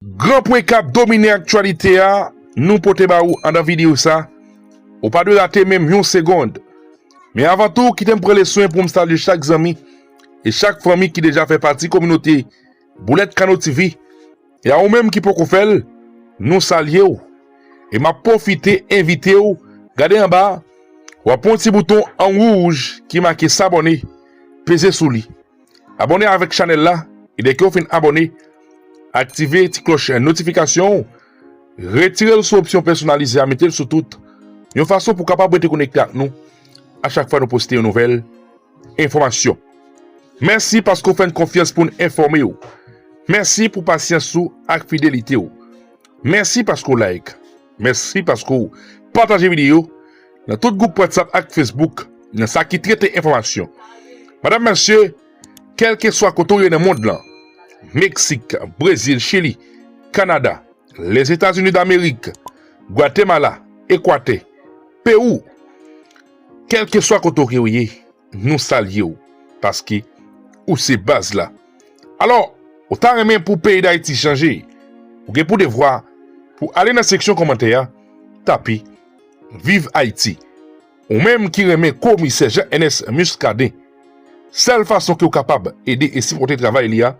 Gran pwen kap domine aktyalite a nou pote ba ou andan videyo sa, ou pa dwe rate menm yon segond. Men avan tou kite m pran leswen poum salye chak zanmi e chak fanmi ki deja fè pati kominote Boulèt Kano TV e a ou menm ki poko fèl nou salye w e map pwofite envite w gade anba a wap wè yon ti bouton an wouj ki make sabòne peze sou li. Abòne avèk chanèl la e dèke w fin abòne aktive ti klòch notifikasyon w retire l sou opsyon pèsonalize a mete l sou tout yon fason pou kapab rete konekte ak nou a chak fwa nou poste yon nouvèl enfòmasyon. Mèsi paske w fè n konfyans pou n enfòme w. Mèsi pou pasyans ou ak fidelite w. Mèsi paske w like. Mèsi paske w pataje videyo nan tout gwoup Whatsapp ak Facebook nan sa ki trete enfòmasyon. Madam, Mesye, kèlkeswa kote w ye nan mond lan, Meksik, Brezil, Chili, Kanada, Lèzetazini Damerik, Gwatemala, Ekwatè, Pewou, kèlkeswa kote w ke w ye, Nou salye w paske ou se baz la. Alò, ou ta renmen pou peyi Dayiti chanje? Ou gen pou devwa pou ale nan seksyon kòmantè a, tape Viv Ayiti. Ou menm ki renmen Komisè Jean Ernest Muscadin, sèl fason ke w kapab ede e sipòte travay li a,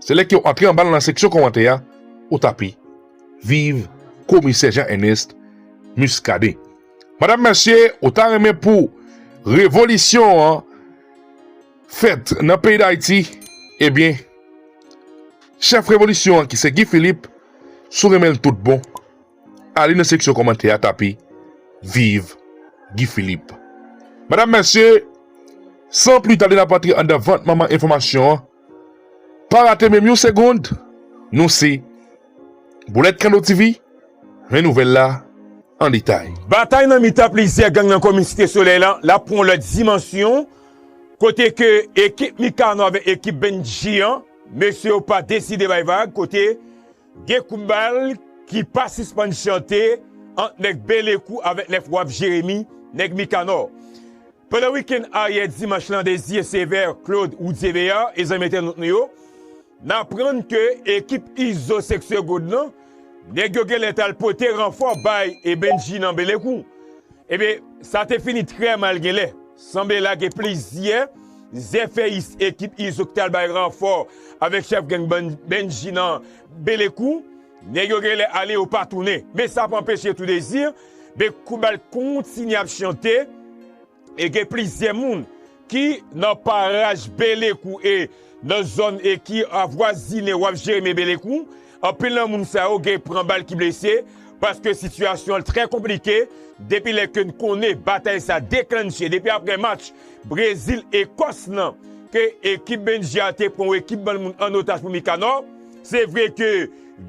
se lè ke w antre anba l nan seksyon kòmantè a, ou tape Viv Komisè Jean Ernest Muscadin. Madam mesye ou ta renmen pou revolisyon an fèt nan peyi dayiti ebyen eh chèf revolisyon an ki se Guy Philippe sou renmen l tout bon ale nan seksyon kòmantè a tape viv Guy Philippe madam mesye san pli tade nap antre andan vant manman enfòmasyon an. Pa rate menm yon segond, nou se Boulèt Kanno TV, men nouvèl la an detay. Batay nan mitan plizyè gang nan komin Site Solèy la ap pran yon lòt dimansyon kote ke ekip Mikano avèk ekip Bendji an, mesye yo pa deside bay vag kote gen kout bal ki pa sispann chante ant nèg Belekou avèk nèg Waf Jeremi, nèg Mikanò. Pandan wikenn aryè dimanch lan Desir Sévère, Claude Roudier Béard e zanmi entènot nou yo, n aprann ke ekip Izo Seksè God lan, nèg yo genlè t al pote ranfò bay e Bendjy nan Belekou. Ebyen, sa te fini trè mal genlè. Sanble la gen plizyè zèfèyis ekip Izo ki t al bay ranfò avèk chèf gang Bendjy nan Belekou. Nèg yo gen lè ale yo pa tounen, men sa pa anpeche Tou Dezi de Koubal kontinye ap chante e gen plizyè moun ki nan paraj Belekou e nan zòn e ki avwazine Waf Jeremi e Belekou, anpil nan moun sa yo gen pran bal ki blese paske sitiyasyon an trè konplike depi lè ke n konnen batay sa deklannche depi aprè match Brezil-Ekòs lan ke ekip Bendje a te pran yon ekip bann moun an otaj pou Mikanò. Se vre ke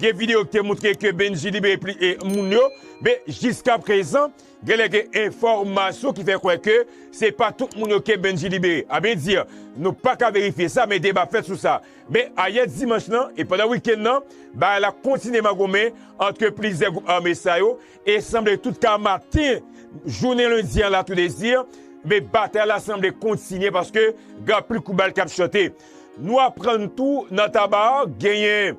gen video ki te moutre ke Bendji libere pli e moun yo, men jiska prezan genlè gen enfòmasyon ki fè kwè ke se pa tout moun yo ke Bendji libere. A byen di, nou pa ka verifye sa men deba fèt sou sa. Men ayè dimanch lan e pandan wikenn lan, bagay la kontinye magomen antre plizyè gwoup ame sa yo e sanble tout ka maten jounen lendi an la tou dezi, men batay la sanble kontinye paske gen anpil kout bal k ap chante. Nou aprann tou nan taba a genyen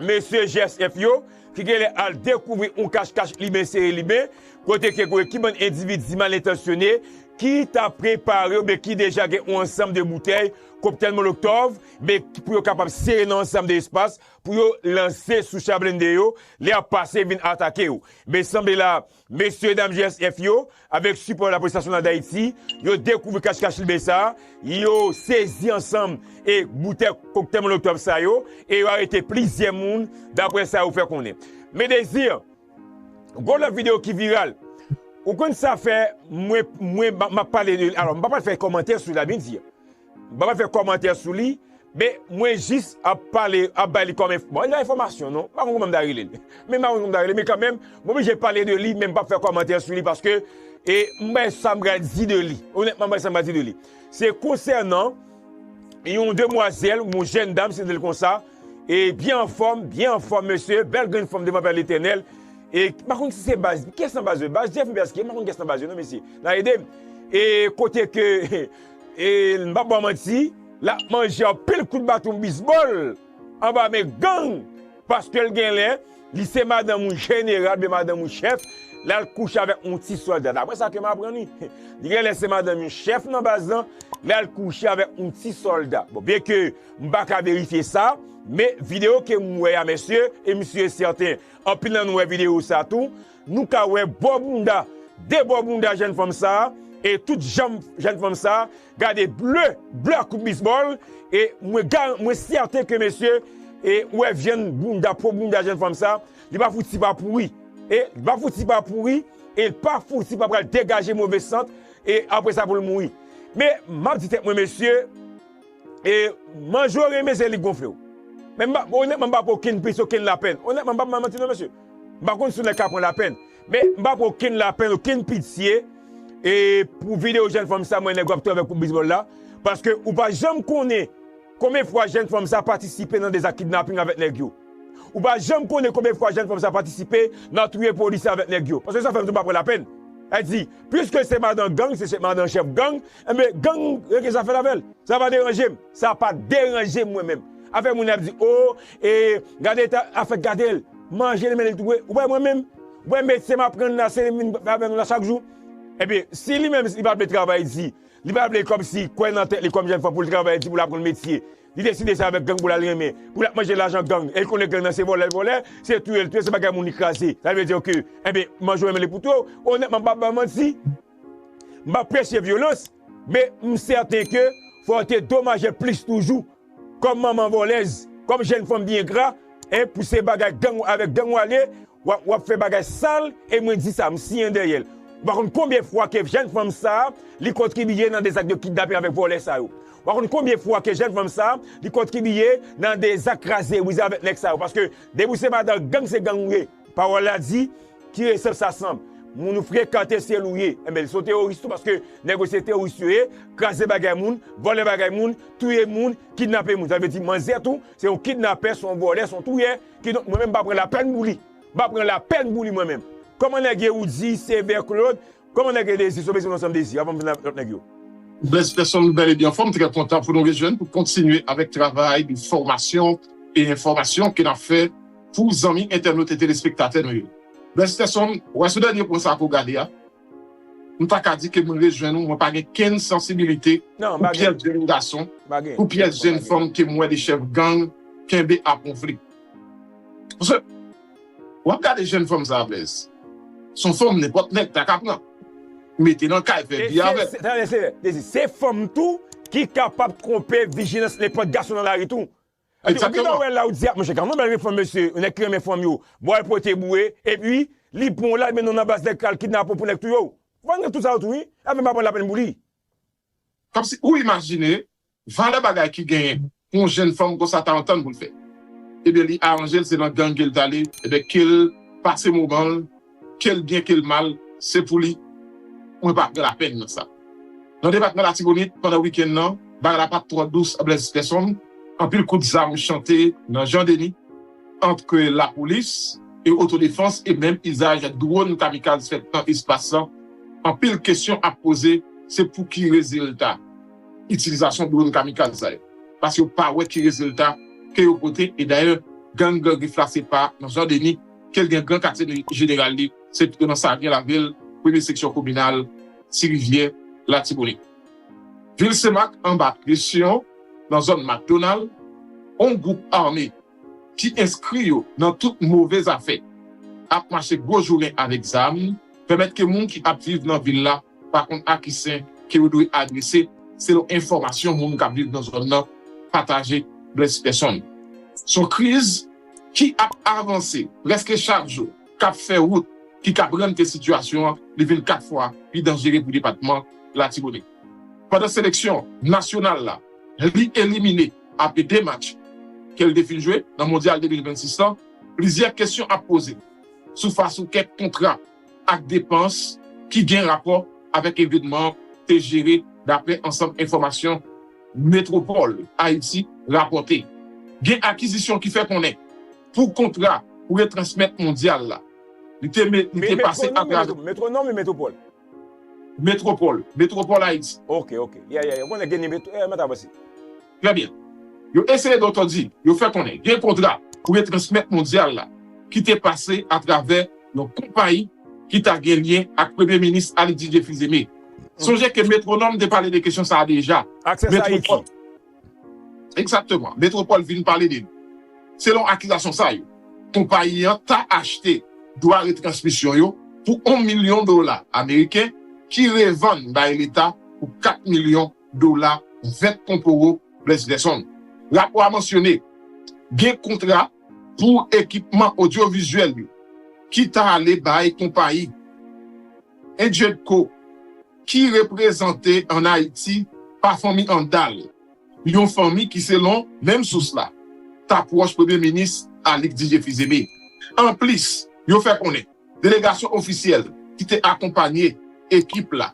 mesye GSF yo ki genlè al dekouvri yon kach kach liben sere liben kote ke gen ki bann endividi mal entansyone ki ta prepare oubyen ki deja gen yon ansanm de boutèy koktèl moloktòv men pou yo kapab sere nan yon ansanm de espas pou yo lanse sou cha blende yo lè y ap pase vin atake yo. Men sanble la Mesye dam GSF yo, avèk sipò lapolis nasyonal Dayiti, yo dekouvri kach kach libe sa, yo sezi ansanm e boutèy koktèy molotòv sa yo, e yo arete plizyè moun, daprè sa yo fè konnen. Medezir, Gon lòt videyo ki viral, ou konn sa fè mwen mwen map pale de li, alò m pa pral fè kòmantè sou li la Medezir. M pa pral fè kòmantè sou li, men mwen jis ap pale, ap bay li kòm, bon li pa enfòmasyon non, m pa konn kòman m ta rele l, men m pa konn kòman m ta rele l, men kanmenm m oblije pale de li men m pap fè kòmantè sou li paske e m bay sa m pral di de li, onètman m bay sa m pral di de li. Se konsènan yon demwazèl, yon jèn dam si nou rele l konsa, e byen anfòm, byen anfòm mesye, bèl grenn fanm devan Pè Letènèl, e m pa konn si se baz, kiyès nan baz yo, baz Jeff oubyen baz kiyès, m pa konn kiyès nan baz yo non mesye, n a ede m, e kote ke. E n pa ba manti, l ap manje anpil kout baton bisbòl anba men gang paske l gen lè li se madanm yon jeneral oubyen madanm yon chèf, l al kouche avèk yon ti sòlda. Daprè sa ke m aprann wi. Li gen lè se madanm yon chèf nan baz lan, li al kouche avèk yon ti sòlda. Bon, byenke m pa ka verifye sa, men videyo ke m wè a mesye, e m si e sèten anpil nan nou wè videyo sa tou, Nou ka wè bò bounda, de bò bounda jèn fanm sa, e tout janm jèn fanm sa, gade ble, ble ak kout bisbòl, e mwen garan, mwen sèten ke mesye, e ou wè vyann bounda, po bounda jèn fanm sa, li pa fouti pa pouri. E, li pa fouti pa pouri, e li pa fouti pa pral degaje move sant, e apre sa pou l mouri. Men, m ap di tèt mwen mesye, e manjore mesye li gonfle w. Men m pa, onètman m pa pran okenn plis, okenn lapèn. Onètman, m pa pran manti non mesye. M pa konn si w nèg k ap pran lapenn, men m pa pran okenn lapenn, okenn pitye e pou videyo jèn fanm sa mwen nèg w ap travay pou bizbòl la, paske ou pa janm konnen konbyen fwa jèn fanm sa patisipe nan de zak kidnaping avèk nèg yo. Ou pa janm konnen konbyen fwa jèn fanm sa patisipe nan touye polisye avèk nèg yo. Paske sa fè m tou m pa pran lapenn. Sa vle di, piske se madan gang, se madan chèf gang, Enben gang yo gen zafè l avè l. Sa pa deranje m. Sa pa deranje m mwen menm. Afè moun ap di oo e gade eta afè gade l. Manje li men li tou vre. Ou wè mwen menm? Ou wè metye m ap pran la se li m vin fè avè nou la chak jou? Enben si li menm li pa vle travay di, li pa vle kòmsi kwè nan tèt li kòm jèn fanm pou l travay di pou l aprann metye. Li deside se avèk gang pou l al renmen. Pou l ap manje lajan gang. E l konnen gang nan se vòlè l vòlè, se touye l touye, se bagay moun li kraze. Sa vle di ke enben manje w men li pou touye w. Onètman m pa ap ba w manti. M pa preche vyolans, men m sèten ke fò yo te domaje plis toujou. Kòm manman vòlèz, kòm jenn fanm byen gra, e pou se bagay gang, avèk gang w ale, w ap fè bagay sal, e mwen di sa, m siyen dèyè l. Ou pa konn konbyen fwa ke jenn fanm sa a, li kontribiye nan de zak de kidnapping avèk vòlè sa yo. Ou pa konn konbyen fwa ke jenn fanm sa a, li kontribiye nan de zak kraze brize avèk nèg sa yo. Paske depi ou se madan gang, se gang ou ye. Pawòl la di, Ki resèp sa sanble? Moun ou frekante syèl ou ye. Enben, li se yon teworis tou paske nèg yo se teworis yo ye, kraze bagay moun, vòlè bagay moun, touye moun, kidnape moun. Sa vle di manzè tou se yon kidnapè, se yon vòlè, se yon touyè. Kidonk mwen menm m pa pran lapèn pou li. M pa pran lapèn pou li mwen menm. Kòman nèg ye ou di Sevè Claude? Kòman nèg Edezi sove se yon ansanm dezi avan m vin ak lòt nèg yo. Blaise Peson nou bèl epi anfòm m trè kontan pou nou rejwenn pou kontinye avèk travay de fòmasyon e enfòmasyon ke nap fè pou zanmi entènot e telespektatè nou yo Blaise Peson wè sou dènye pwen sa ke w gade a m pa ka di ke m rejwenn ou mwen pa gen kenn sansibilite pou pyès jenn gason pou pyès jenn fanm ke m wè de chèf gang kenbe a ponfli paske. Wap gade jèn fanm sa blèz son fanm nenpòt nèg ta ka pran mete nan kay fè vi avèl. Dezi se fanm tou ki kapab konpe vijilans nenpòt gason nan lari tou. Egzakteman. Ou wè la ou di a monchè gason bèl wi fanm mesye yon nèg ki renmen fanm yo ba w al pote boure epi li pran w lal mennen w nan baz nèg pral kidnape w pou nèg touye w. Fanm gen tout sa yo tou wi. Fanm pa pran lapèn pou li. Kòmsi ou imajine Valè bagay ki genyen pou yon jenn fanm konsa ta antann pou l fè. Ebyen li aranje l se nan gang ke l t ale ebyen ke l pase moman l ke l byen ke l mal se pou li mwen pa pran lapèn nan sa. Nan depatman Latibonit pandan wikenn nan bagay la pat twò dous a Blaise Peson, anpil kout zam chante nan Jan Deni antre lapolis e otodefans e menm izaj dwon kamikaz fèt nan espas lan, anpil kesyon ap poze se pou ki rezilta? itilizasyon dronn kamikaz sa yo paske yo pa wè ki rezilta ke yo pote e dayè gang gran grif la se pa nan jan deni kel gen gran katye jeneral li se pito nan savyen lavil premye seksyon kominal ti rivyè latibonit vil senmak anba presyon nan zòn makdonal on gwoup ame ki enskri yo nan tout move zafè ap mache gwo jounen avèk zam pèmèt ke moun ki ap viv nan vil la. pa konn a ki sen ke yo dwe adrese selon enfòmasyon moun k ap viv nan zòn nan pataje Bless Personne. S on kriz ki ap avanse prèske chak jou k ap fè wout ki kab rann ke sitiyasyon an li vin 4 fwa pi danjere pou depatman Latibonit. Pandan seleksyon nasyonal la li elimine apre 2 match ke l te fin jwe nan Mondyal 2026 lan, plizyè kesyon ap poze sou fas ou kèk kontra. ak depans ki gen rapò avèk evènman te jere daprè ansanm enfòmasyon Metwopòl Ayiti rapòte. Gen akizisyon ki fè konnen pou kontra pou retransmèt Mondyal la, li te pase atravè. Metwonòm ou Metwopòl? Metwopòl, Metwopòl Ayiti. Ok, ok. Yeah, yeah, yeah. Ou konnen Genie Met, eh, mwen ta wè si. Trè byen. Yo eseye dò tò di, yo fè konnen gen kontra pou retransmèt mondyal la ki te pase atravè yon konpayi ki ta gen lyen ak Premye Minis Ali Didier Fils-Aimé. Sonje ke Métronome te pale de kesyon sa a deja. Access Haiti. Egzakteman. Métropole vin pale de li. Selon akizasyon sa yo, konpayi an ta achte dwa retransmisyon yo pou on milyon dola ameriken ki revann bay Leta pou kat milyon dola vèt konporo Bless Gerson. Rapò a mansyone gen kontra pou ekipman odyovizyèl yo ki ta ale bay konpayi Enjedco ki reprezante an Ayiti pa fanmi Handal, yon fanmi ki selon menm sous la ta pwòch Premye Minis Alix Didier Fils-Aimé. Anplis, yo fè konnen delegasyon ofisyèl ki te akonpanye ekip la,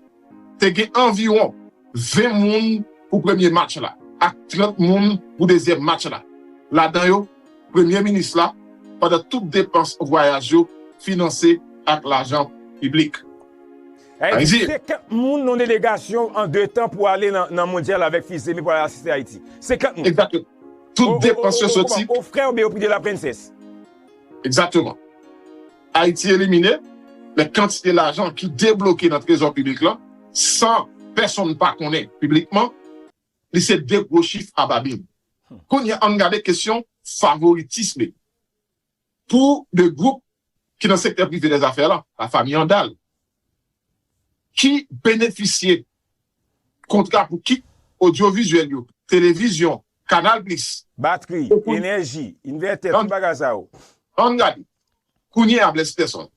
Te gen anviwon 20 moun pou premye match la ak 30 moun pou dezyèm match la, ladan yo premye minis la, pandan tout depans vwayaj yo finanse ak lajan piblik. Ayiti. Senkant moun nan delegasyon an de tan pou ale nan mondyal avèk Fils-Aimé pou al asiste Ayiti. Senkant moun. Egzateman. Tout depans yo soti. Aux frères Beaupré de la Princesse. Egzateman. Ayiti elimine, men kantite lajan ki debloke nan trezò piblik lan san pèsonn pa konnen piblikman li se 2 gwo chif a babin. Kounya ann gade kesyon favoritisme pou 2 gwoup ki nan sektè prive dèzafè lan, lafami Handal. ki benefisye kontra pou kit odyovizyèl yo, televizyon, Canal Plus. Batri, enèji, invètè, tout bagay sa yo. Ann gade, kounye a Blaise Peson,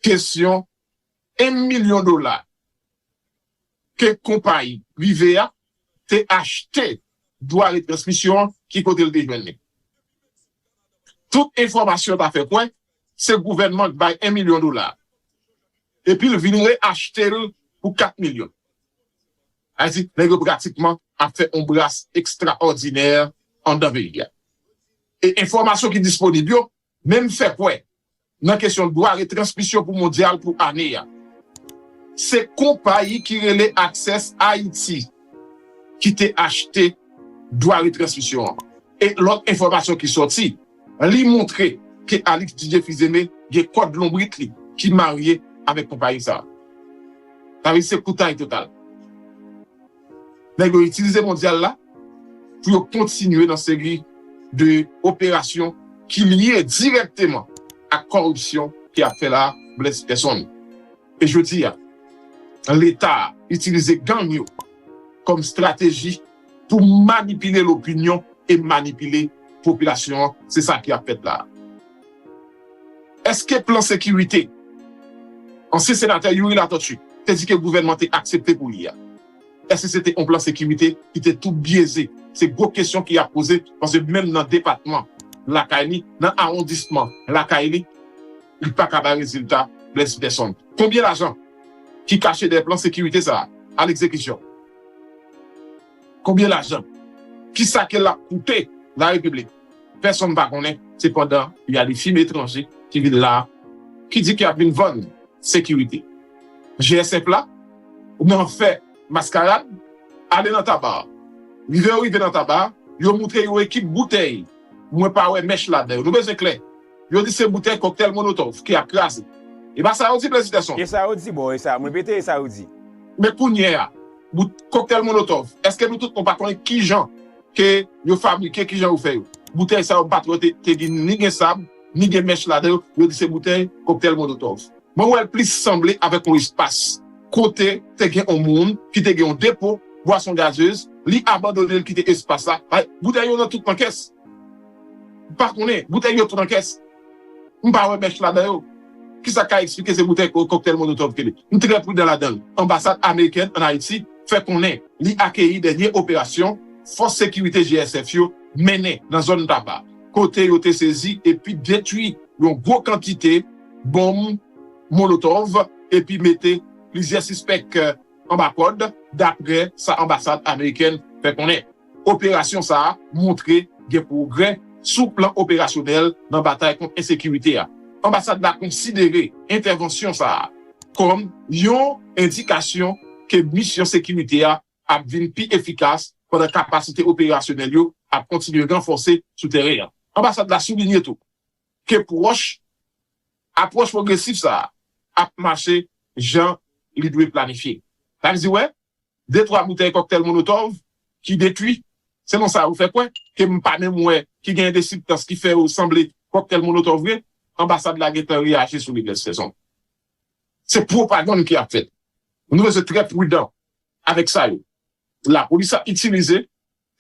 kesyon 1 milyon dola. ke konpayi prive a te achte dwa retransmisyon an ki kote l te jwenn li. Tout enfòmasyon ta fè kwè se gouvènman k bay 1 milyon dola a epi l vin re achte l pou 4 milyon. Sa vle di nèg yo pratikman ap fè yon bras ekstraòdinè anndan peyi a. E enfòmasyon ki disponib yo Menm fè kwè nan kesyon dwa retransmisyon pou mondyal pou ane a. Se konpayi ki rele Access Haiti ki te achte dwa retransmisyon an. E lòt enfòmasyon ki sòti, li montre ke Alix DJ Fils-Aimé gen kòd lonbrit li ki marye avèk konpayi sa a. Sa vle di se koutay total. Nèg yo itilize mondyal la pou yo kontinye nan seri de operasyon ki lye dirèkteman ak kòripsyon ki ap fè la bless pèsonn. E jodi a, leta a itilize gang yo kòm strateji pou manipile lopinyon e manipile popilasyon an. Se sa ki ap fèt la a. Eske plan sekirite ansyen senatè Youri Latortue te di ke gouvènman te aksepte pou li a, eske se te yon plan sekirite ki te tou byeze? Se gwo kesyon ki ap poze paske menm nan depatman lakay li, nan awondisman lakay li, li pa ka bay rezilta Blaise Peson. Konbyen lajan ki kache dèyè plan sekirite sa a, a lekzekisyon? Konbyen lajan? Kisa ke lap koute la repiblik? Pèsonn pa konnen, se pandan y a de fim etranje ki vin la ki di ke yap vin vann sekirite. GSF la nan fè maskarad, ale nan taba. Rive yo rive nan taba, yo moutre yon ekip boutèy, mwen pa wè mèch ladan yo. Nou bezwen klè. Yo di se boutèy kòktèl monotòv ki ap kraze. E pa sa yo di Plezitèson? E sa yo di bon e sa, m repete e sa yo di. Men kounye a, bout kòktèl monotòv, èske nou tout nou pa konnen kijan ke yo fabrike, kijan yo fè yo? Boutèy sa yo m pa t wè te gen ni gen sab, ni gen mèch ladan yo, yo di se boutèy kòktèl monotòv. Mwen wè l plis sanble avèk yon espas kote te gen yon moun ki te gen yon depo bwason gazez, li abandone l kite espas la, bay boutèy yo nan tout nan kès. M pa konnen. Boutèy yo tout an kès. M pa wè bèch ladan yo. Ki sa k ka eksplike se boutèy koktèl Molotov ke li. M trè pridan ladan l. Anbasad amerikèn ann Ayiti fè konnen li akeyi dènye operasyon fòs sekirite JSF yo mennen nan zòn Taba kote yo te sezi epi detwi yon gwo kantite bonm Molotov epi mete plizyè sispèk anba kòd, dapre sa anbasad amerikèn fè konnen. Operasyon sa a montre gen pwogrè sou plan operasyonèl nan batay kont ensekirite a. Anbasad la konsidere entèvansyon sa a kòm yon endikasyon ke misyon sekirite a ap vin pi efikas pandan kapasite operasyonèl yo ap kontinye ranfòse sou tèren an. Anbasad la soulinye tou ke pwòch. Apwòch pwogresif sa a ap mache jan li dwe planifye. Sa vle di wè de twa boutèy kòktèl Molotov ki detwi, selon sa yo fè kwè, ke m pa menm wè ki genyen de sibtans ki fè yo sanble kòktèl Molotov vre, anbasad la gen tan reyaji sou li Blaise Fezon. Se pwopagann ki ap fèt. Nou bezwen trè prudan avèk sa yo lapolis ap itilize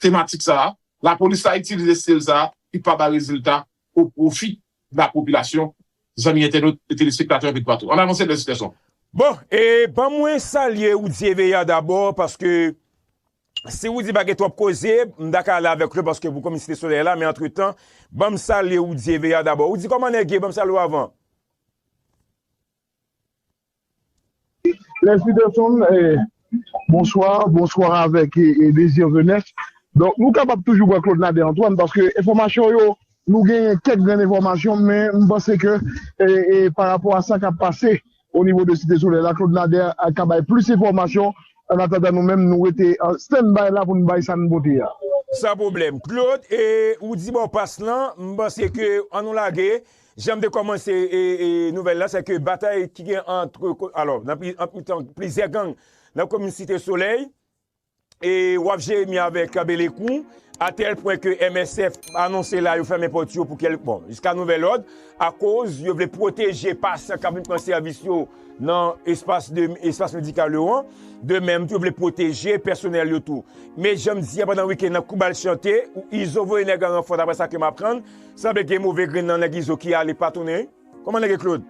tematik sa a, lapolis la itilize stil sa a ki pa bay rezilta o pwofi la popilasyon, zanmi entènot e telespektatè anpe toupatou. Ann avanse bèl titèson. Bon, e ban mwen salye Roudy Evea dabò paske si Roudy pa gen twòp koze, m ta ka ale avèk l paske pou kòm Site Solèy la men antretan, ban m salye Roudy Evea dabò. Roudy kòman nèg ye? Ban m salye w avan. Lè si de son bonswa, bonswa avèk e dezir jenès. Donk nou kapab toujou wè Claude Nader Antoine paske enfòmasyon yo nou genyen kèk grenn enfòmasyon men m panse ke e parapò a sa k ap pase o nivo de Site Solèy la Claude Nader ka bay plis enfòmasyon an atandan nou menm nou rete an stand by la pou n bay sa n pote a. San pwoblèm. Claude e ou di bò pas lan m panse ke an nou lage Janm te kòmanse nouvèl la, sèke batay ki gen antre, alò, nan mitan plizyè gang nan komin Site Solèy, e wap Jeremi avèk Kabelekou, atèl pwen ke MSF anonse la yo fèmen pòt yo pou kèlk, bon, jiska nouvèl lòd, akoz yo vle pwoteje pasyan kap vin pran sèvis yo nan espas medikal yo an, de menm tou yo vle pwoteje pèsonèl yo tou. Men janm di a pandan wikenn nan kou bal chante, Izo voye nèg an ranfò daprè sa kem aprann, Sanble gen move grenn nan nèg izo ki ale pa tounen wi Koman nèg e Claude.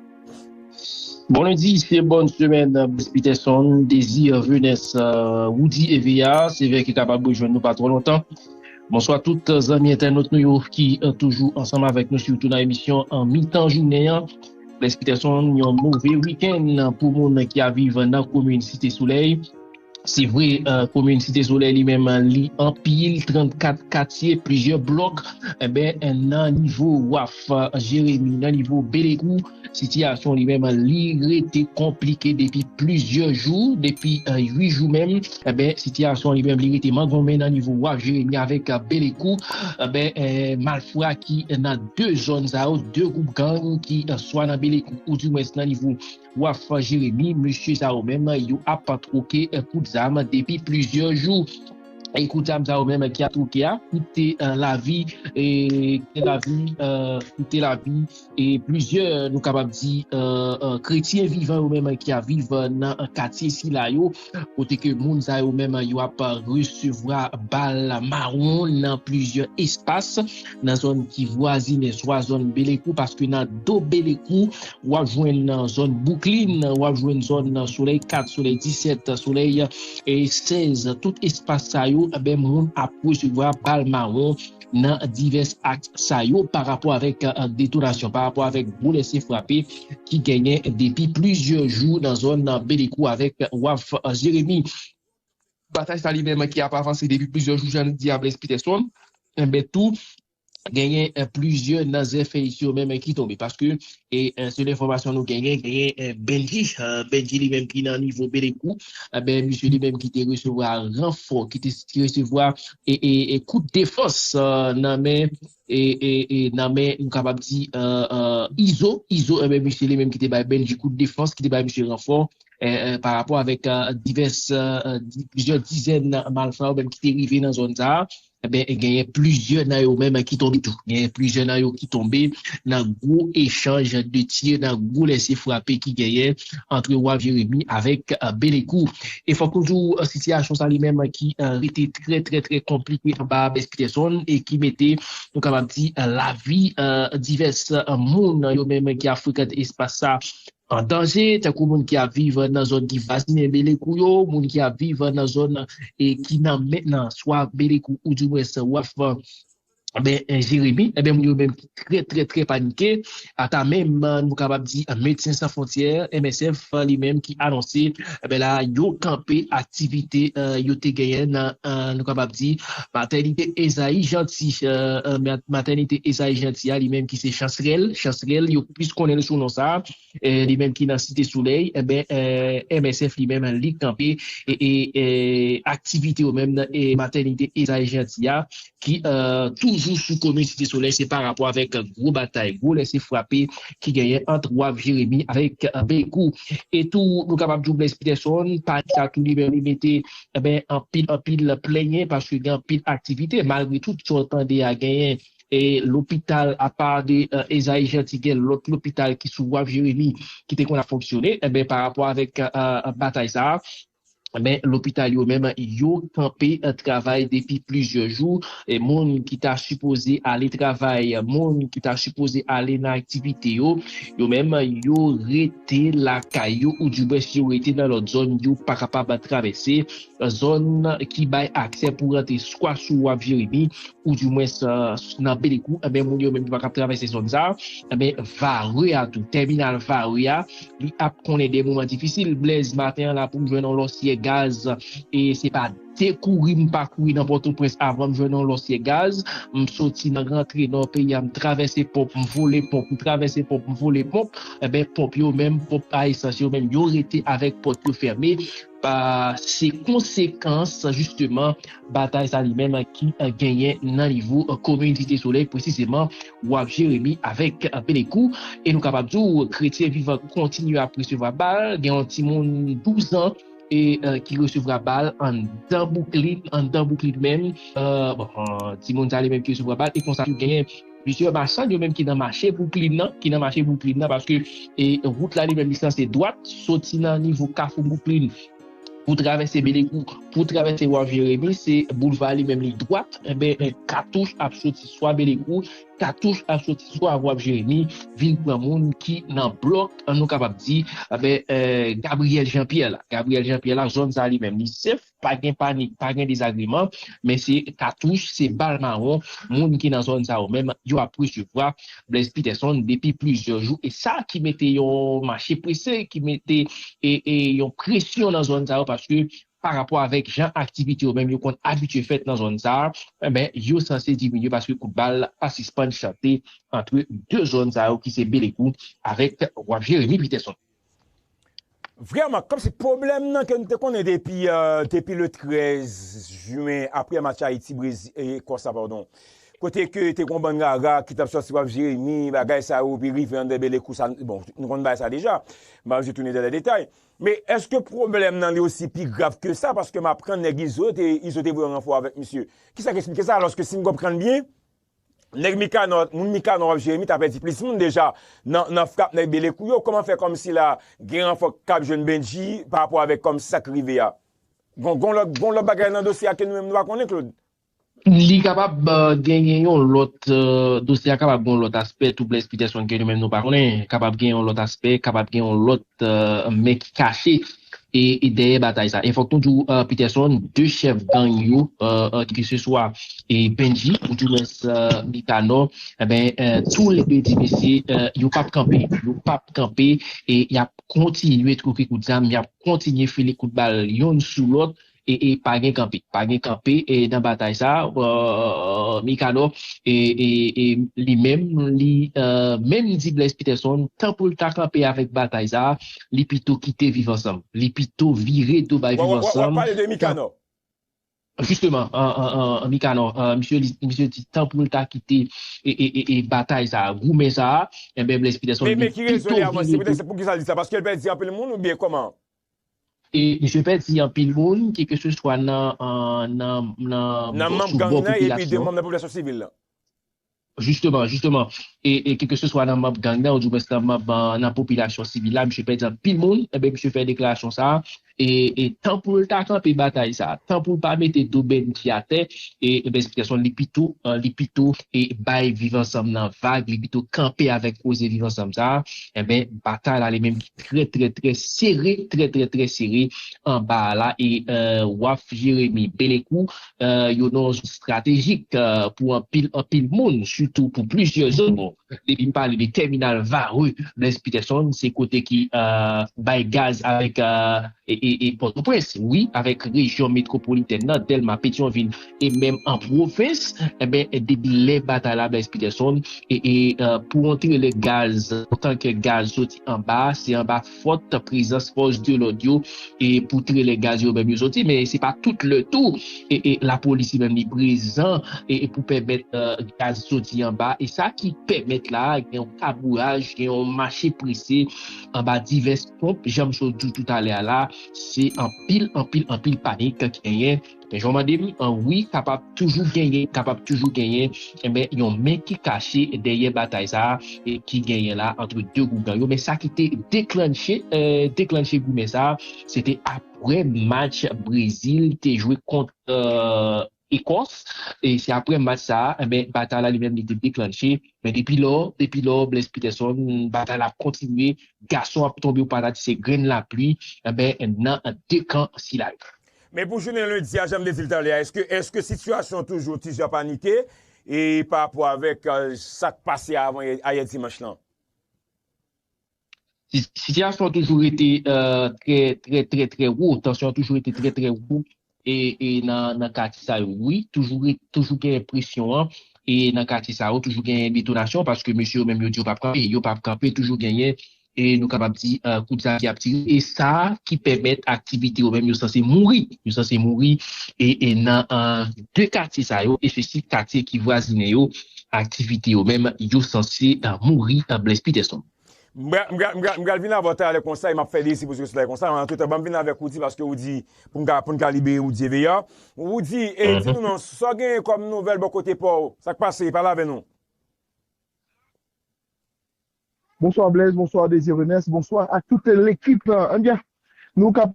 Bon lundi se bòn semèn Blaise Peterson Désir Venus Roody et Véa sevè ki kapab rejwenn nou pa twò lontan Bonswa tout zanmi entènot nou yo ki toujou ansanm avèk nou sitou nan emisyon an mitan jounen an Blaise Peterson yon move week-end pou moun ki ap viv nan komin site solèy. Se vre, komin Site Solèy li menm li anpil 34 katye, plizyè blòk. Enben, nan nivo waf Jeremi, nan nivo Belekou, sitiyasyon li menm li rete konplike depi plizyè jou, depi 8 jou menm. Enben, sitiyasyon li menm li rete mangonmen nan nivo waf Jeremi avèk Belekou. Enben, malfra ki nan 2 zòn sa yo, 2 gwoup gang ki swa nan Belekou oudimwens nan nivo. Wap fè jeremi mesye sa yo menm yo ap troke kout zam depi plizyè jou e kout zam sa yo menm ki ap troke a koute lavi e koute lavi koute lavi e plizyè nou kapab di kretyen vivan yo menm ki ap viv nan katye sila yo. kote ke moun sa yo menm yo ap resevwa bal mawon nan plizyè espas nan zòn ki vwazine swa zòn Belekou paske nan do Belekou w ap jwenn zòn Bouklin, w ap jwenn zòn Solèy 4, Solèy 17, Solèy 16, tout espas sa yo, moun ap resevwa bal mawon nan divès aks sa yo pa rapò avèk detonasyon, pa rapò avèk gwo lese frape ki genyen depi plizyè jou nan zòn Belekou avèk Waf Jeremi. Batay sa li menm ki ap avanse depi plizyè jou jan li di Ablès Pitèsonn, enben tou genyen plizyè nan zèfèy yo menm ki tonbe paske E sele enfòmasyon nou genyen, genyen Bendji, Bendji li menm ki nan nivo Belekou, enben misye li menm ki te resevwa ranfò, ki te resevwa e kout defans nan men, nan men nou kapab di Izo, Izo enben misye li menm ki te bay Bendji kout defans, ki te bay misye ranfò pa rapò avèk divès, plizyè dizèn malfra ou menm ki te rive nan zòn sa a. Enben, genyen plizyè nan yo menm ki tonbe tou. Genyen plizyè nan yo ki tonbe nan gwo echanj de tir, nan gwo lese frape ki genyen antre Waf Jeremi avèk Belekou. E fòk nou di w, sitiyasyon sa li menm ki rete trè trè trè konplike anba Bèz Pitèsonn e ki mete, nou kapab di, lavi divès moun yo menm ki ap frekante espas sa An danje, tankou moun ki ap viv nan zòn ki vwazinen Belekou yo, moun ki ap viv nan zòn ki nan men nan swa Belekou ou dimwens Waf Jeremi, enben moun yo menm ki trè trè trè panike, ata menm nou kapab di Medsen San Fwontyè, MSF, li menm ki anonse. Enben la a, yo kanpe aktivite yo te genyen nan, nou kapab di, matènite Ezayi Janti. Matènite Ezayi Janti a, li menm ki se Chansrèl, Chansrèl, yo plis konnen l sou non sa a, li menm ki nan Site Solèy, enben, MSF li menm li kanpe aktivite yo menm nan matènite Ezayi Janti a, ki toujou sou komin Site Solèy se pa rapò avèk gwo batay, gwo lese frape ki genyen ant Waf Jeremi avèk Bèkou. E tou nou kapab di w Blèz Pitèsonn pa eta tou li menm li mete anpil anpil plenyen paske gen anpil aktivite malgre tout sa w tande a genyen lopital apa de Ezayi Janti gen lòt lopital ki sou Waf Jeremi ki te konn ap fonksyone. Enben pa rapò avèk batay sa a Men lopital yo menm yo kanpe travay depi plizyè jou. Moun ki ta sipoze ale travay, moun ki ta sipoze ale nan aktivite yo, yo menm yo rete lakay yo oudibwens yo rete nan lòt zòn yo pa kapab travèse zòn ki bay aksè pou rantre swa sou wap Jeremi oudimwens nan Belekou. Moun yo menm yo pa kab travèse zòn sa. Vare a tou, tèminal vare a. Li ap konnen de moman difisil. Blaise, maten an la pou m jwenn yon lòsyè gaz e se pa de kouri m pa kouri nan Pòtoprens avan m jwenn yon lòsyè gaz. M soti nan rantre Nò peyi a, m travèse ponp, m vole ponp, m travèse ponp, m vole ponp. Enben, ponp yo menm, ponp a esans yo menm, yo rete avèk pòt yo fèmen. Se konsekans jisteman batay sa li menm ki genyen nan nivo komin Site Solèy presizeman Waf Jeremi avèk Belekou e nou kapab di w kretyen vivan kontinye ap resevwa bal, gen yon timoun 12 an ki resevwa bal anndan bouklin anndan bouklin menm bon timoun sa li menm ki resevwa bal e konsa tou genyen. Plizyè machann yo menm ki nan mache Bwouklin nan, ki nan mache Bwouklin nan paske wout la li menm li sanse dwat soti nan nivo kafou Bwouklin pou travèse Belekou pou travèse Wharf Jeremi se boulva a li menm li dwat enben katouch ap soti swa Belekou katouch ap soti swa Wharf Jeremi vin pran moun ki nan blòk nou kapab di Gabriel Jean Pierre la Gabriel Jean Pierre la zòn sa a li menm li sef. Pa gen panik, pa gen dezagreman, men se katouch, se bal mawon moun ki nan zòn sa yo menm yo ap resevwa Blaise Peterson depi plizyè jou e sa ki mete yon mache prese, ki mete yon presyon nan zòn sa yo paske pa rapò avèk jan aktivite yo menm yo konn abitye fèt nan zòn sa enben yo sanse diminye paske kout bal pa sispann chante antre 2 zòn sa yo ki se Belekou avèk Wap Jeremi Peterson. Vrèman, kòmsi pwoblèm nan ke nou te konnen depi depi le 13 juin aprè match Ayiti Brezil e Ekòs la padon kote ke te gon bann rara ki tap sòti wap Jeremi bagay sa yo epi rive an Dèbele kou sa bon nou konnen bagay sa deja m pa vle tounen dèlè detay men èske pwoblèm nan li osi pi grav ke sa paske m aprann nèg Izo te Izo te voye ranfò avèk misye kisa k esplike sa alòske si m konprann byen Nèg mikanò, moun mikanò wap jeremi ta pèdi plis moun deja nan nan frap nèg belekou yo kòman fè kòmsi la gen ranfò kap jwenn bendji pa rapò avèk kòmsi sak rive a gon gon lòt gon lòt bagay nan dosye a ke nou menm nou pa konnen claude. Li kapab genyen yon lòt dosye a kapab gen yon lòt aspè troubles peterson ke nou menm nou pa konnen kapab gen yon lòt aspè kapab gen yon lòt men ki kache e dèyè batay sa e fòk nou di w Peterson 2 chèf gang yo ke se swa Bendji ou di mwens Nicanor enben tou le 2 di mesye yo pap kanpe yo pap kanpe e yap kontinye twoke kout zam yap kontinye file kout bal yonn sou lòt. e pa gen kanpe pa gen kanpe nan batay sa mikado li menm li menm di Blaise Peterson tan pou l ta kanpe avèk batay sa li pito kite viv ansanm li pito vire do bay viv ansanm wap pale de mikado jisteman mikado misye di tan pou l ta kite batay sa goumen sa Blaise Peterson li pito vire do poukisa l di sa paske l pèdi anpil moun oubyen kòman. E misye fè di anpil moun ke ke se swa nan nan manb gang nan epi de manb nan popilasyon sivil lan. Jisteman, jisteman. E ke ke se swa nan manb gang nan ou di mwens nan manb nan popilasyon sivil la, misye fè di anpil moun, enben misye fè deklarasyon sa a, e tan pou l ta kanpe batay sa a, tan pou l pa mete do bndit yo atè, enben esplikasyon li pito, li pito bay viv ansanm nan vag, li pito kanpe avèk koze viv ansanm sa a, enben batay la li menm ki. trè trè trè sere trè trè trè sere anba a la e waf Jeremi Belekou yo non stratejik pou anpil anpil moun sitou pou plizyè zòn depi m pale de tèminal Varreux Blaise Peterson se kote ki bay gaz avèk e Pòtoprens wi avèk rejyon metwopolitèn nan Dèlma Petyonvil E menm an pwovens, enben depi lè batay la Blaise Peterson e pou yon trelè gaz, yon tankè gaz soti anba, se anba fòt prezans fòs de lòd yo e pou trelè gaz yo menm yo soti, men se pa tout lè tou e lapolis li menm li prezan e pou pèmèt gaz soti anba e sa ki pèmèt la gen yon kabouraj, gen yon mache prese anba divès ponp, janm sot di w toutalè a la, se anpil, anpil, anpil panik ki genyen. Jan w mande m an, wi, kapab toujou genyen, kapab toujou genyen, enben, yon men ki kache dèyè batay sa a ki genyen la antre 2 gwoup gang yo. Men sa ki te deklannche, deklannche goumen sa a, se te apre match Brezil te jwe kont Ekòs. E se apre match sa a, enben, batay la li menm li te deklannche. Men depi lò, depi lò, Blaise Peterson, batay la ap kontinye, gason ap tonbe ou pa ta di se grenn lapli, enben, nan 2 kan sila yo. Men pou jounen lendi a, jan m te di l talè a, èske, èske sitiyasyon toujou ti jan panike e pa rapò avèk sa k pase avan yè, ayè dimanch lan? Sitiyasyon an toujou rete trè, trè, trè, trè wo, tansyon an toujou rete trè, trè wo e, e nan katye sa yo wi, toujou re, toujou genyen presyon an e nan katye sa yo toujou genyen detonasyon paske mesye yo menm yo di yo p ap kanpe, yo p ap kanpe, toujou genyen e nou kapab di kout sa ki ap tire e sa ki pèmèt aktivite yo menm yo sanse mouri, yo sanse mouri e nan 2 katye sa yo espesyif katye ki vwazine yo aktivite yo menm yo sanse mouri Blaise Peterson. M pral vin avè w talè konsa e m ap fè dezi pou w sou talè konsa men antoutan ban m vin avèk Roudy paske ou di pou m ka pou n ka libere Roudy Eveillard Roudy e di nou non sa w genyen kòm nouvèl bò kote pa w sa k pase pale avè nou. Bonswa Blaise bonswa Désir Renès bonswa ak tout lekip lan anbyen nou kap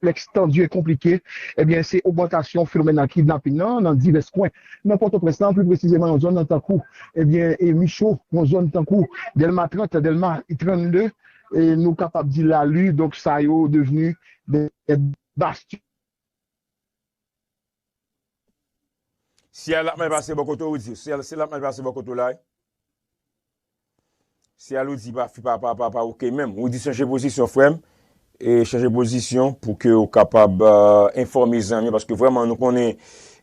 konplèks tandi e konplike ebyen se ogmantasyon fenomèn kidnaping lan nan divès kwen nan pòtoprens lan pli presizeman nan zòn tankou ebyen micho nan zòn tankou dèlma 30 dèlma 32 e nou kapab di lali donk sa yo devni de bastion. Ciel lap mal pase bò kote ou di ciel ciel lap mal pase bò kote ou la wi ciel ou di pa fi pa pa pa ok menm ou di chanje pozisyon frèm e chanje pozisyon pou ke ou kapab enfòme zanmi paske vrèman nou konnen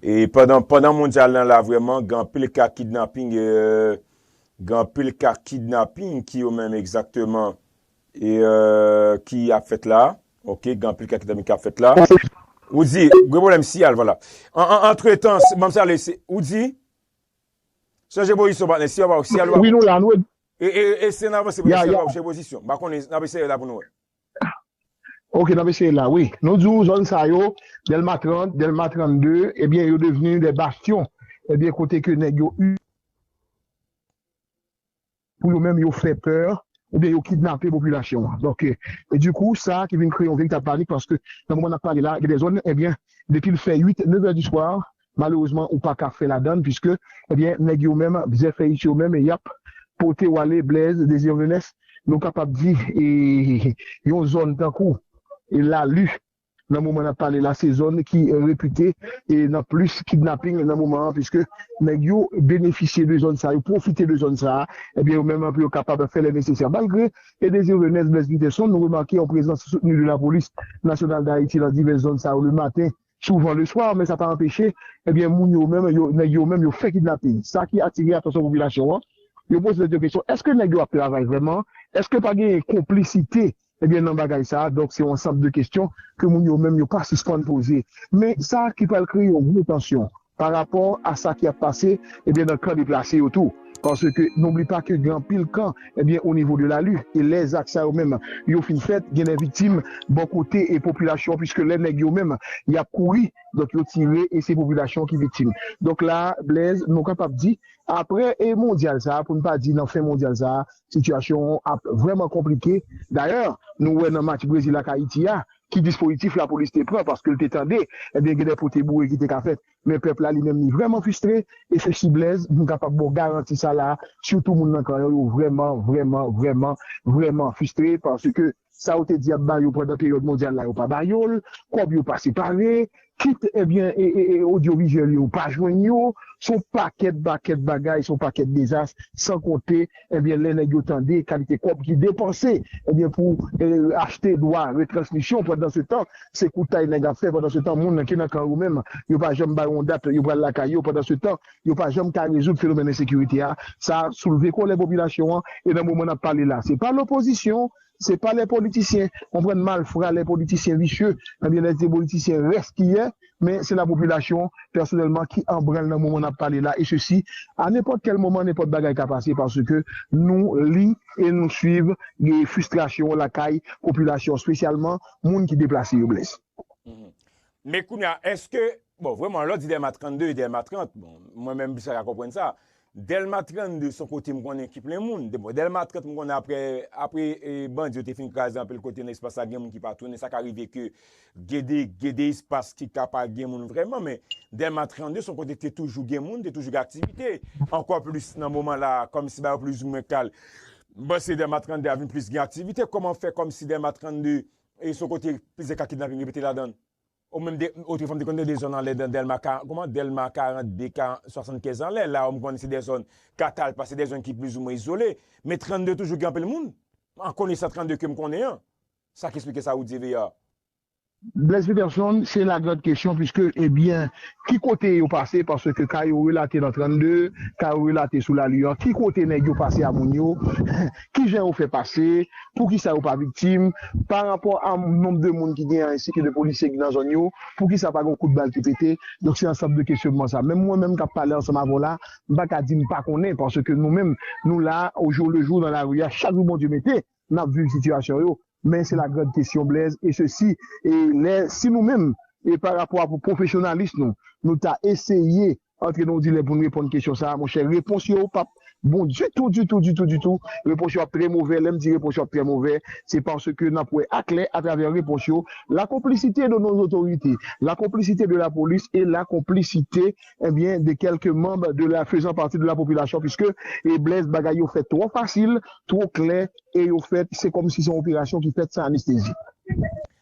e pandan pandan mondyal lan la vrèman gen anpil ka kidnaping gen anpil ka kidnaping ki yo menm egzakteman Ki ap fèt la ok gen anpil kè ki tanmen ki ap fèt la ou di gen pwoblèm siyal vwala antretan banm salye ou di chanje pozisyon patnè siyal pa siyal pa bon eseye nan avanse siyal pa chanje pozisyon m pa konnen nap eseye la pou nou wè. Ok nap eseye la wi nou di w zòn sa yo dèlma 30 dèlma 32 ebyen yo devni dè bastyon ebyen kote ke nèg yo. pou yo menm yo fè pè oubyen yo kidnape popilasyon an. Donk, e di kou sa ki vin kreye yon veritab panik paske nan moman nap pale la gen de zòn ebyen depil fè 8, 9 è di swa malerezman ou paka fè ladann piske ebyen nèg yo menm bzèfèyis yo menm yap pote w ale Blaise Désir Venès nou kapab di e yon zòn tankou Lalu nan moman nap pale la se zòn ki repite nan plis kidnaping nan moman an piske nèg yo benefisye de zòn sa yo pwofite de zòn sa ebyen yo menm pou yo kapab fè lè nesesè malgre e Désir Renès Blaise Peterson nou remake yon prezans soutni de lapolis nasyonal Dayiti nan divès zòn sa yo le maten souvan le swa men sa pa anpeche ebyen moun yo menm yo nèg yo menm yo fè kidnaping sa ki atire atansyon popilasyon an yo poze tèt yo kesyon èske nèg yo ap travay vrèman èske pa genyen konplisite. Ebyen nan bagay sa a, donk se yon ansanb de kestyon ke moun yo menm yo pa sispann poze. Men sa ki pral kreye yon gwo tansyon pa rapò a sa ki ap pase ebyen nan kan deplase yo tou. Paske n'oubli pa ke gen anpil kan ebyen o nivo de lalu e lè zak sa yo menm yo fin fèt gen de viktim bò kote e popilasyon pwiske lè nèg yo menm y'ap kouri donk yo tire e se popilasyon ki viktim. Donk la a Blaise nou kapab di Aprè e mondyal sa a, pou n pa di nan fen mondyal sa a, sitiyasyon an ap vrèman konplike. Dayè, nou wè nan match Brezil ak Ayiti a, ki dispozitif lapolis te pran paske l te tande ebyen gen de pote boure ki te ka fèt. Men pèp la li menm li vrèman fistre e se si Blèz m kapab ba w garanti sa la a, sitou moun nan kan yo, yo vrèman, vrèman, vrèman, vrèman fistre paske. Sa yo te di yap ba yo pandan peryòd mondyal la yo pa ba yo l, kòb yo pa separe, kit ebyen odyovizyèl yo pa jwenn yo, s on pakèt bakèt bagay, s on pakèt dezas san konte ebyen lè nèg yo tande kalite kòb ki depanse ebyen pou achte dwa retransmisyon pandansetan se koutay nèg ap fè pandansetan moun ki nan kan yo menm yo pa janm ba yo yon dat yo pral lakay yo pandansetan yo pa janm ka rezoud fenomèn ensekirite a, sa soulve kolè popilasyon an e nan moman n ap pale la se pa lopozisyon, se pa lè politisyen konprann malfra, lè politisyen visye, ebyen lè se politisyen rèskiyè men se lapopilasyon pèsonèlman ki an branl nan moman n ap pale la e sesi a nenpòt kèl moman nenpòt bagay ka pase paske nou li e nou swiv fristrasyon lakay popilasyon spesyalman moun ki deplase yo Blaise. Men kounya eske, bon vreman lò di Dèlma 32 e Dèlma 30, bon mwen menm m plis pa ka konprann sa. Dèlma 32 son kote m konnen ki plen moun, bon Dèlma 30 m konnen aprè, aprè bandi yo te fin kraze anpil kote nan espas la gen moun ki pa tounen sa ka rive ke gen de, gen de espas ki ka pa gen moun vreman men Dèlma 32 son kote te toujou gen moun, te toujou gen aktivite. Ankò plis nan moman la a kòmsi bagay yo plizoumwen kal, m panse Dèlma 32 a vin plis gen aktivite, kòman fè kòmsi Dèlma 32 e son kote plizyè ka kidnaping repete ladan l o menm de otrefwa m te konn de de zòn anlè nan dèlma ka kouman dèlma 42 ka 75 anlè la m konn se de zòn katal pa se de zòn ki plizoumwen izole men 32 toujou gen anpil moun an konesan 32 ke m konnen an sa ki esplike sa ou di veer. Blaise Peterson se la grand kesyon piske ebyen ki kote yo pase paske ka yo relate nan 32 ka yo relate sou lali an ki kote nèg yo pase a moun yo kijan yo fè pase, poukisa yo pa viktim, pa rapò a nonb de moun ki genyen ensi ke de polisye ki nan zòn yo, poukisa pa gon kout bal ki pete, donk se ansanm de kesyonman sa. Menm mwen menm k ap pale ansanm avè w la, m pa ka di m pa konnen paske nou menm nou la ojoulejou nan lari a, chak jou Bondye mete, n ap viv sitiyasyon yo, men se la grand kesyon Blaise e se si e lè si nou menm e pa rapò a pou pwofesyonalis nou, nou ta eseye Antre nan yon dilèm pou n reponn kesyon sa a, monchè. Repons yo pap bon ditou, ditou, ditou, ditou. Repons yo ap trè movè. Lè m di repons yo ap trè movè, se paske n ap wè aklè atravè repons yo la konplisite de nos autorités, la konplisite de la polis e la konplisite, ebyen, de kèlke manb de la fezan pati de la popilasyon piske, e Blaise, bagay yo fèt twò fasil, twò klè e yo fèt se kòmsi se yon operasyon ki fèt san anestezi.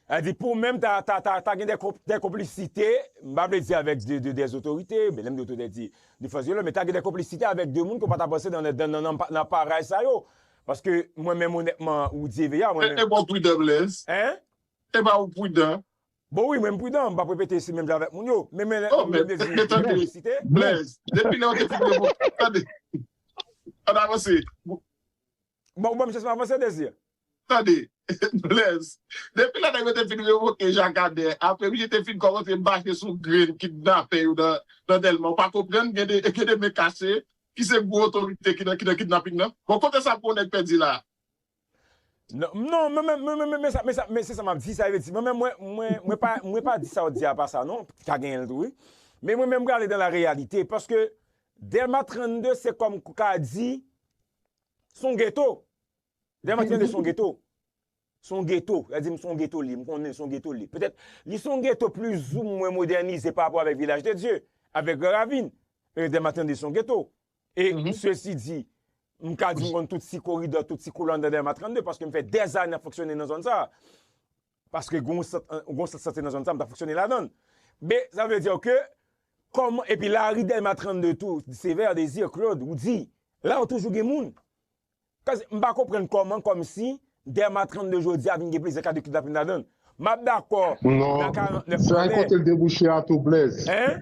A di pou menm ta ta ta ta gen dè konp dè konplisite, m pa vle di avèk de de dè zotorite, men lè m di otoritè di de fòs de lòd, men ta gen dè konplisite avèk de moun ke w pa ta panse nan nan nan nan nan parèy sa yo. Paske mwen menm onètman Roudy Veyard mwen menm. Epa w pridan Blaise? Hein? Epa ou pridan? Bon wi mwen m pridan, m p ap repete si menm jan avèk moun yo. Men men lè m vle di gen konplisite. Blaise, depi lè ou te fin revoke, tande, ann avanse. Bon ou banm chans m avanse Désir. Tande Blaise, depi lè nèg yo te fin revoke Jakadè, apre misye te fin kòmanse mache sou grenn kidnapè yo nan Dèlma, ou pa konprann gen de men kache ki se gwo otorite ki nan kidnaping nan? Bon kote sa pou yon nèg pèdi la a? Non, mwen menm, mwen menm, men sa, men sa, men se sa m'ap di, sa vle di, mwen menm mwen, mwen, mwen pa, mwen pa di sa'w di a pa sa non, ka genyen l tou wi, men mwen menm m prale dan la reyalite, paske Dèlma 32 se kòm ou ka di, Son ghetto. Lè mwen tande son ghetto. Son ghetto. Lè di m son ghetto li. M konnen son ghetto li. Petèt li son ghetto plus ou mwen modernize pa rapò avèk Vilaj de Dye. Avèk Gran Ravin. E lè mwen tande son ghetto. E sesi di. M ka di m konn tout ti koridò, tout ti koulanda dèyè ma 32 paske m fè dèzane ap fonksyone nan zòn sa a. Paske gen yon sant, gen yon sant sante nan zòn sa, m ta fonksyone ladan l. Men, sa vle dire ke, kòman, epi lari Dèlma 32 tou, Sévère, Désir, Claude, Roudy, la yo toujou gen moun. Paske, m pa konprann kòman, kòmsi, Dèlma 32 jodi a vin gen plizyè ka de kidnapin ladan l. M ap dakò, nan 49 anlè. Non, sa e kote l debouche a tou, Blaise. Hein?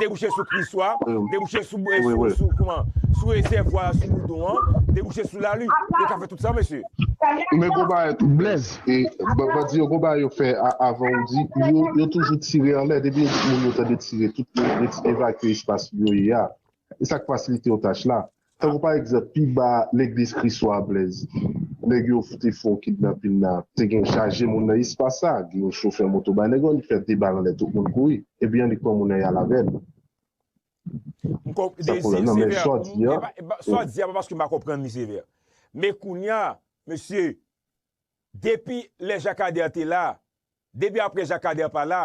debouche sou kriswa, debouche sou rezèvwa a sou boudon an, debouche sou lari. Yo ka fè tout sa mesye. Men gon bagay tou Blèz, bandi yo gon bagay yo fè avan ou di, yo toujou tire anlè, depi yo di moun yo tande tire, tout moun evakye espas yo ye a. E sa k fasilite yo tach la. Tankou pa egzanp, pi ba legliz Kris Wa a Blèz, nèg yo te fè yon kidnapin la, te gen chaje moun nan espas sa, gen yon chofè moto bay nèg lan, li fè 2 bal anlè tout moun kouri, ebyen li pran moun nan y al avè l. M konp, Sa de pwoblèm nan, men sa w di an, sa w di an pa paske m pa konprann li sevè, men kounya mesye, Depi lè Jakader te la, depi aprè Jakader pa la,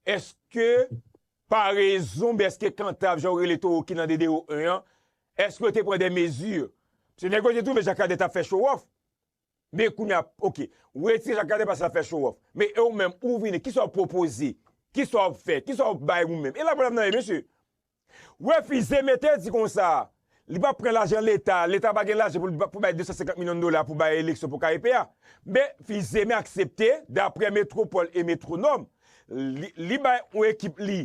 eske Paraison oubyen eske Kantav jan ou rele towo ki nan DDO 1 an, eske yo te pran des mesures? Paske nèg yo te twouve Jakader tap fè show off. Men kounya, ok, ou retire Jakader paske lap fè show off. Men e ou menm, ou vini, kisa ou pwopoze? Kisa ou fè? Kisa ou bay ou menm? E la pwòblèm nan ye mesye. Refize mete di konsa li pap pran lajan leta, leta pa gen lajan pou bay 250 milyon dola pou bay eleksyon pou KEP a, men fize men aksepte daprè Metropole et Metronome li bay yon ekip li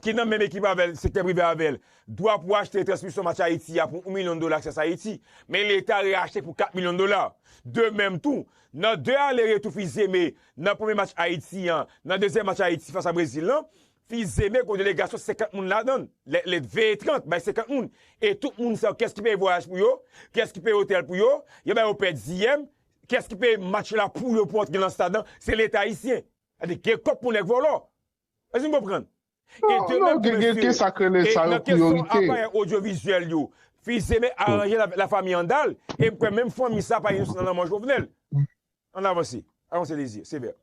ki nan menm ekip avèl sektè prive avèl dwa pou achte transmisyon match Ayiti a pou 1 milyon dola Access Haiti men leta reachte pou 4 milyon dola de menm tou nan 2 ale retou fize men nan premye match Ayiti an nan dezyèm match Ayiti fas a Brezil lan Fi Zeme gon delegasyon 50 moun ladan l, lè lè t veye 30 bay 50 moun e tout moun sa yo kiyès ki peye vwayaj pou yo, kiyès ki peye otèl pou yo, yo ba yo pèdiyèm, kiyès ki peye match la pou yo pou antre lan stad lan, se leta ayisyen. Sa vle di gen kòb pou nèg vòlò. Èske n konprann? E de menm tou mesye, e nan kesyon aparèy odyovizyèl yo, Fi Zeme aranje l avèk lafanmi Andal e m kwè menm fanmi sa pa inosan nan lanmò Jovenel. Ann avanse. Avan se Désir. Sévère.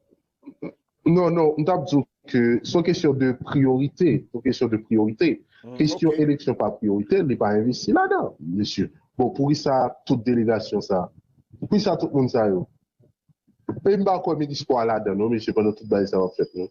Non, non, m t ap di w ke se yon kesyon de priyorite. Se yon kesyon de priyorite. Kesyon eleksyon pa priyorite, li pa envesti ladan, mesye. Bon, poukisa tout delegasyon sa a? Poukisa tout moun sa yo? E m pa kwè minis spò a ladan non, mesye, pandan tout bagay sa yo ap fèt non.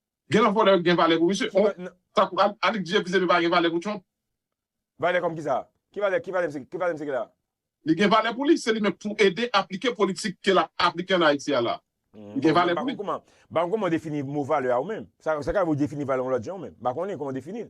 Gen lò vòlè gen valè pou misye. Oh tankou Alik di epizepi pa gen valè pou Trump. Valè kòm kisa? Ki valè ki valè ki valè misye gen la? Li gen valè pou li, se li menm pou ede aplike politik ke lap aplike an Ayiti a la. Li gen valè pou li. Mpa konn kouman ou defini mo valè a ou menm. Sa ka rive ou defini valè yon lòt jan ou menm. Mpa konnen kouman ou definil.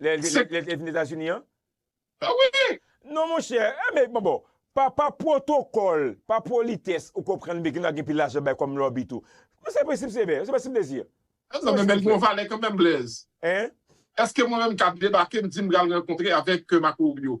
Lè l Se te vin Etazini an? Ah wi! Non monchè, eh men bon bon, pa pa pwotokòl, pa politès ou konprann bgy la gen pil lajan bay kòm lòbi tou. Men se prensip sevè, se prensip dezi. An nan men men l gon valè kanmenm Blaise. Hein? Eske mwen menm m ka debake m di m pral rankontre avèk Marco Rubio?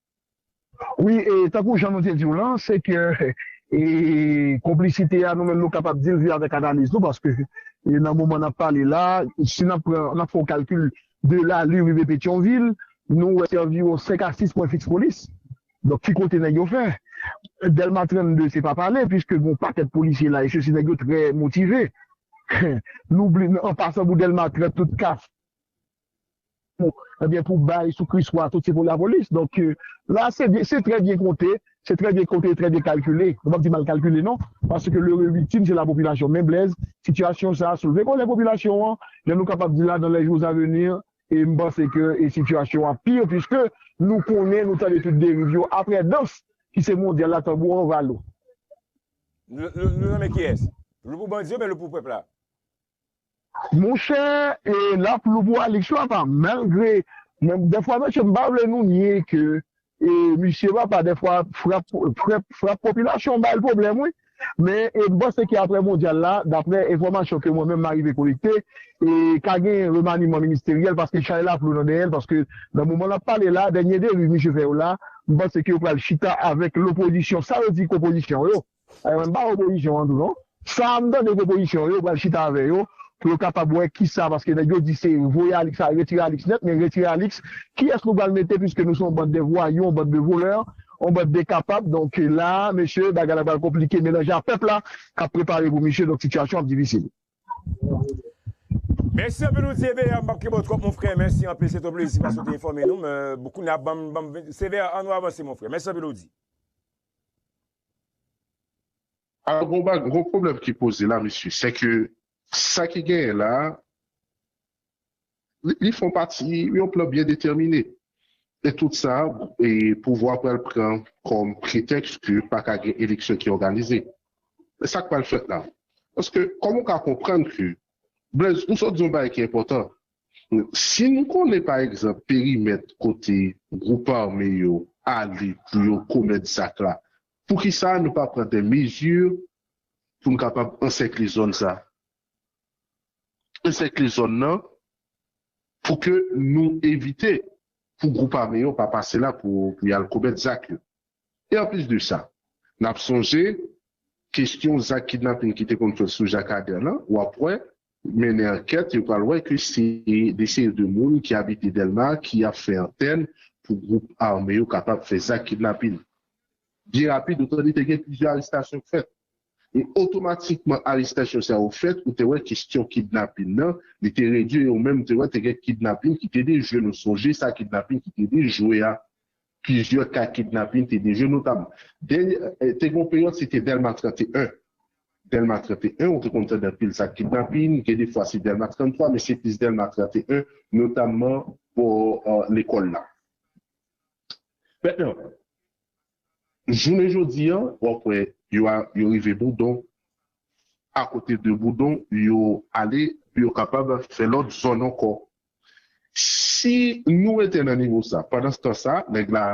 Wi e tankou jan nou te diw lan se ke e konplisite a nou menm nou kapab dil via avèk analiz nou paske e nan moman nap pale la si nap pran nap fè yon kalkil de lalu rive petyonvil nou wè se anviwon 5 a 6 pwen fiks polis donk ki kote nèg yo fè dèlma 32 se pa pale pwiske gon pakèt polisye la e sesi nèg yo trè motive nou bli an pasan pou dèlma 30 tout kaf. Ebyen pou bay sou kris wa tout se pou lapolis donk la se byen se trè byen konte se trè byen konte trè byen kalkile nou pap di mal kalkile non paske le re viktim se la popilasyon men Blèz sitiyasyon sa soulve kòlè popilasyon an jan nou kapab di la dan lè jou a veni e m panse ke e sitiyasyon ap pi piske nou konnen nou tande tout deriv yo aprè dans ki se mondyal la tanbou an va lou. Nou nonmen kiyès? Lou pou bandi yo men lou pou pèp la? Monchè e lap lou pou Alix wi apa malgre men dèfwa mesye m pa vle nou nye ke e misye papa dèfwa frap frèp frap popilasyon bay l pwoblèm wi men e m panse ke aprè mondyal la daprè enfòmasyon ke mwen menm m arive kolekte e ka gen remaniman ministeryèl paske chay la flou nan dèyè l paske nan moman nap pale la dènye deriv misye fè yo la m panse ke yo pral chita avèk lopozisyon sa yo di ke opozisyon yo Bon mwen pa opozisyon an tou non. Sam tande ke opozisyon yo pral chita avè yo pou yo kapab wè kisa paske nèg yo di se voye Alix ale retire Alix nèt men retire Alix kiyès nou pral mete pwiske nou se yon band de vwayou yon band de volè yon band de kapab donk la mesye bagay la pral konplike melanje a pèp la kap prepare pou misye donk sitiyasyon ap difisil. Mèsi anpil ou di Eber m pap kenbe w twòp mon frè mèsi anpil se t yon plezi paske w te enfòme nou men kounya banm banm se vè an nou avanse mon frè mèsi anpil ou di. Alò gon bagy gon pwoblèm ki poze la mesye sè ke sa ki genyen la li fon pati yon plan byen detèmine e tout sa pouvwa pral pran kòm pretèks ke pa ka gen eleksyon ki òganize men sak pral fèt la paske kòman ou ka konprann ke Blaise ou sot di yon bagy ki enpòtan Si nou konnen pa egzanp perimèt kote gwoup ame yo ale pou yo komèt zak la, poukisa nou pa pran dè mezi pou n kapab ansèkle zòn sa, ansèkle zòn nan pou ke nou evite pou gwoup ame yo pa pase la pou y al komèt zak yo? E anplis de sa, n ap sonje kesyon zak kidnaping ki te konn fèt sou Jacques Ader lan, w ap wè, mennen ankèt, yo pral wè ke se de seri de moun ki abite Dèlma ki ap fè antèn pou gwoup ame yo kapab fè zak kidnaping. Byen rapid, ou tande te gen plizyè arestasyon k fèt. E otomatikman arestasyon sa yo fèt, ou te wè kesyon kidnaping lan, li te redui e ou menm te wè te gen kidnaping ki te dejwe. Nou sonje sa kidnaping ki te dejwe a. Plizyè ka kidnapin te deje notab. Dènyè te gon peryòd se te Dèlma 31. Dèlma 31 ou te konn tande anpil zak kidnapin, gen de fwa se Dèlma 33 men se plis Dèlma 31 notamman bò lekòl la. Mètnan, jounen jodi a w ap wè yo a yo rive Boudon, akote de Boudon yo ale pou yo kapab fè lòt zòn ankò Si nou rete nan nivo sa, pandanstan sa, nèg la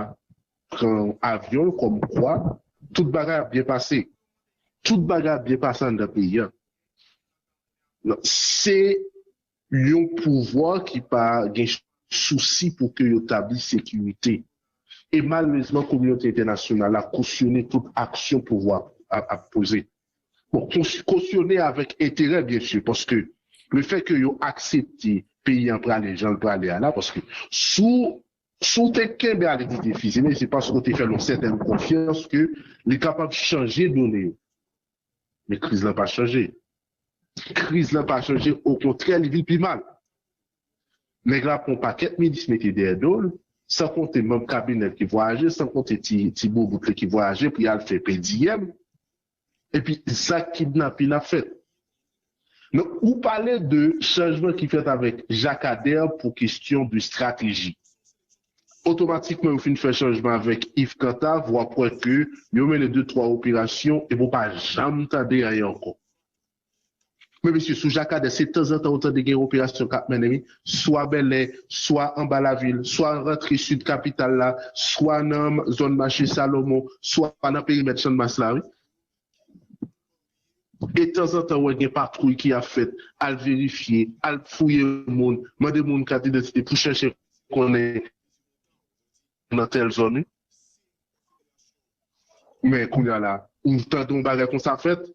pran avyon l kòmkwa tout bagay ap byen pase. Tout bagay ap byen pase anndan peyi a. Se yon pouvwa ki pa gen sousi pou ke yo tabli sekirite. E malerezman kominote entènasyonal la kosyone tout aksyon pouvwa ap poze. Bon, kosyone avèk enterè byen si, paske le fè ke yo aksepte peyi an prale jan l prale a la, paske si w, si w te kenbe avèk lide Fizeme, se paske w te fè l yon sètèn konfyans ke li kapab chanje done yo. Men kriz lan pa chanje. Kriz lan pa chanje, okontrè li vin pi mal. Nèg la pran yon pakèt minis mete dèyè do l, san konte manb kabinè l ki vwayaje, san konte ti boubout li ki vwayaje pou y al fè pediyèm, epi zak kidnapin ap fèt. Donk, ou pale de chanjman ki fèt avèk Jakadèr pou kestyon de strateji. Otomatikman yo fin fè chanjman avèk Iv Kantav, w ap wè ke yo mennen de twa operasyon epi w pa janm tande anyen ankò. Men mesye sou Jakadè se tanzantan ou tande gen yon operasyon kap mennen wi, swa Bèlè, swa anba lavil, swa rantre sid kapital la, swa nan zòn mache Salomon, swa nan perimèt Channmas la wi. E tanzantan ou wè gen patwouy ki ap fèt al verifye, al fouye moun, mande moun kat idantite pou chèche konnen nan tèl zòn wi. Men kounya la ou tande yon bagay konsa fèt.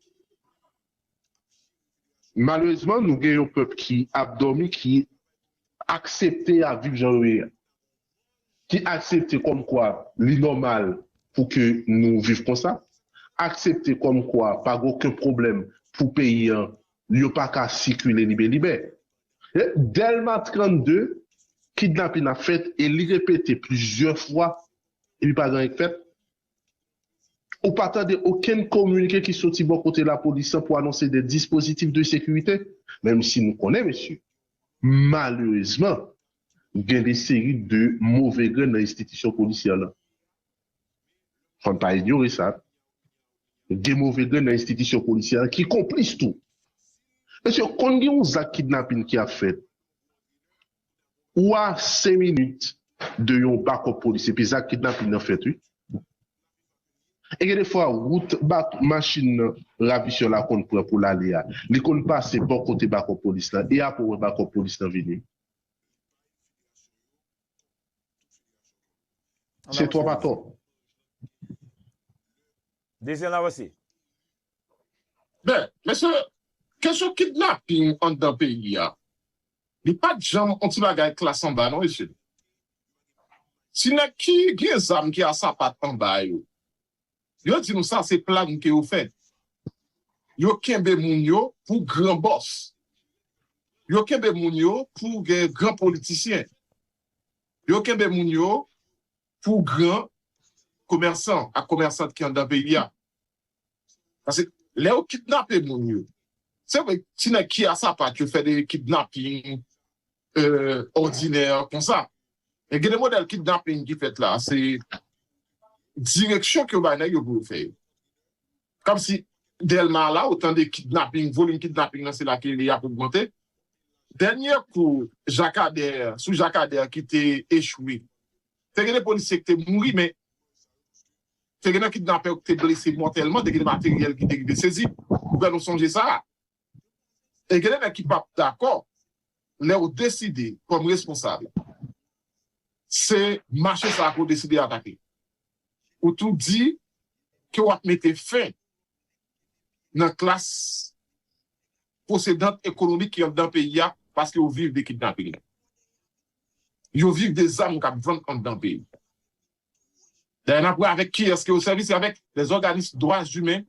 Malerezman nou gen yon pèp ki ap dòmi ki aksepte yap viv jan yo ye a. Ki aksepte kòm kwa li nòmal pou ke nou viv konsa. Aksepte kòm kwa pa gen oken pwoblèm pou peyi an yo paka sikile libelibè. Dèlma 32, kidnapin ap fèt e li repete plizyè fwa epi pa gen anyen k fèt. Ou pa tande okenn kominike ki soti bò kote lapolis lan pou anonse de dispozitif de sekirite, menm si nou konnen mesye, malerezman gen de seri de move grenn nan enstitisyon polisyè lan. Fò n pa inyore sa, gen move grenn nan enstitisyon polisyè a ki konplis tou. Mesye, konn gen yon zak kidnapin ki ap fèt, ou a 5 minit de yon bakòp polis epi zak kidnapin nan fèt wi. E gen defwa wout machin ravisè la konn pran pou l ale a, li konn pase bò kote bakòp polis la e apre ou wè bakòp polis la vini. Se twòp atò. Dezi ann avanse. Ben, mesye, kesyon kidnaping anndan peyi a, li pa t janm yon ti bagay klas anba non mesye. Si nèg ki gen zam ki a sapat anba yo, Yo di nou sa se plan ke yo fè. Yo kenbe moun yo pou gran bòs. Yo kenbe moun yo pou gen gran politisyen. Yo kenbe moun yo pou gran komèsan ak komèsant ki anndan peyi a. Pase lè yo kidnape moun yo, se vre ti nèg ki a sapat yo fè de kidnaping, òdinè konsa. Men gen de modèl kidnaping ki fèt la, se direksyon ke yo bay nèg yo pou yo fè yo. Kòmsi Dèlma a la ou tande kidnaping, volim kidnaping nan se la ke li ap ogmante. Dènyè kou Jakadè, sou Jakadè ki te echwe, te gen de polisye ki te mouri men te gen nan kidnapè yo ki te blese mòtèlman, te gen de materyèl ki te rive sezi. Pou fè nou sonje sa. E gen de nèg ki pap dakò lèw deside kòm responsab se mache sa kew deside atake. Ou tou di ke wap mete fen nan klas posedant ekonomik ki anndan peyi a paske yo viv de kidnaping. Yo viv de zam kap vann anndan peyi. Dayè nap wè avèk kiyès ke yo sèvi se avèk lèzòganis dwa zimen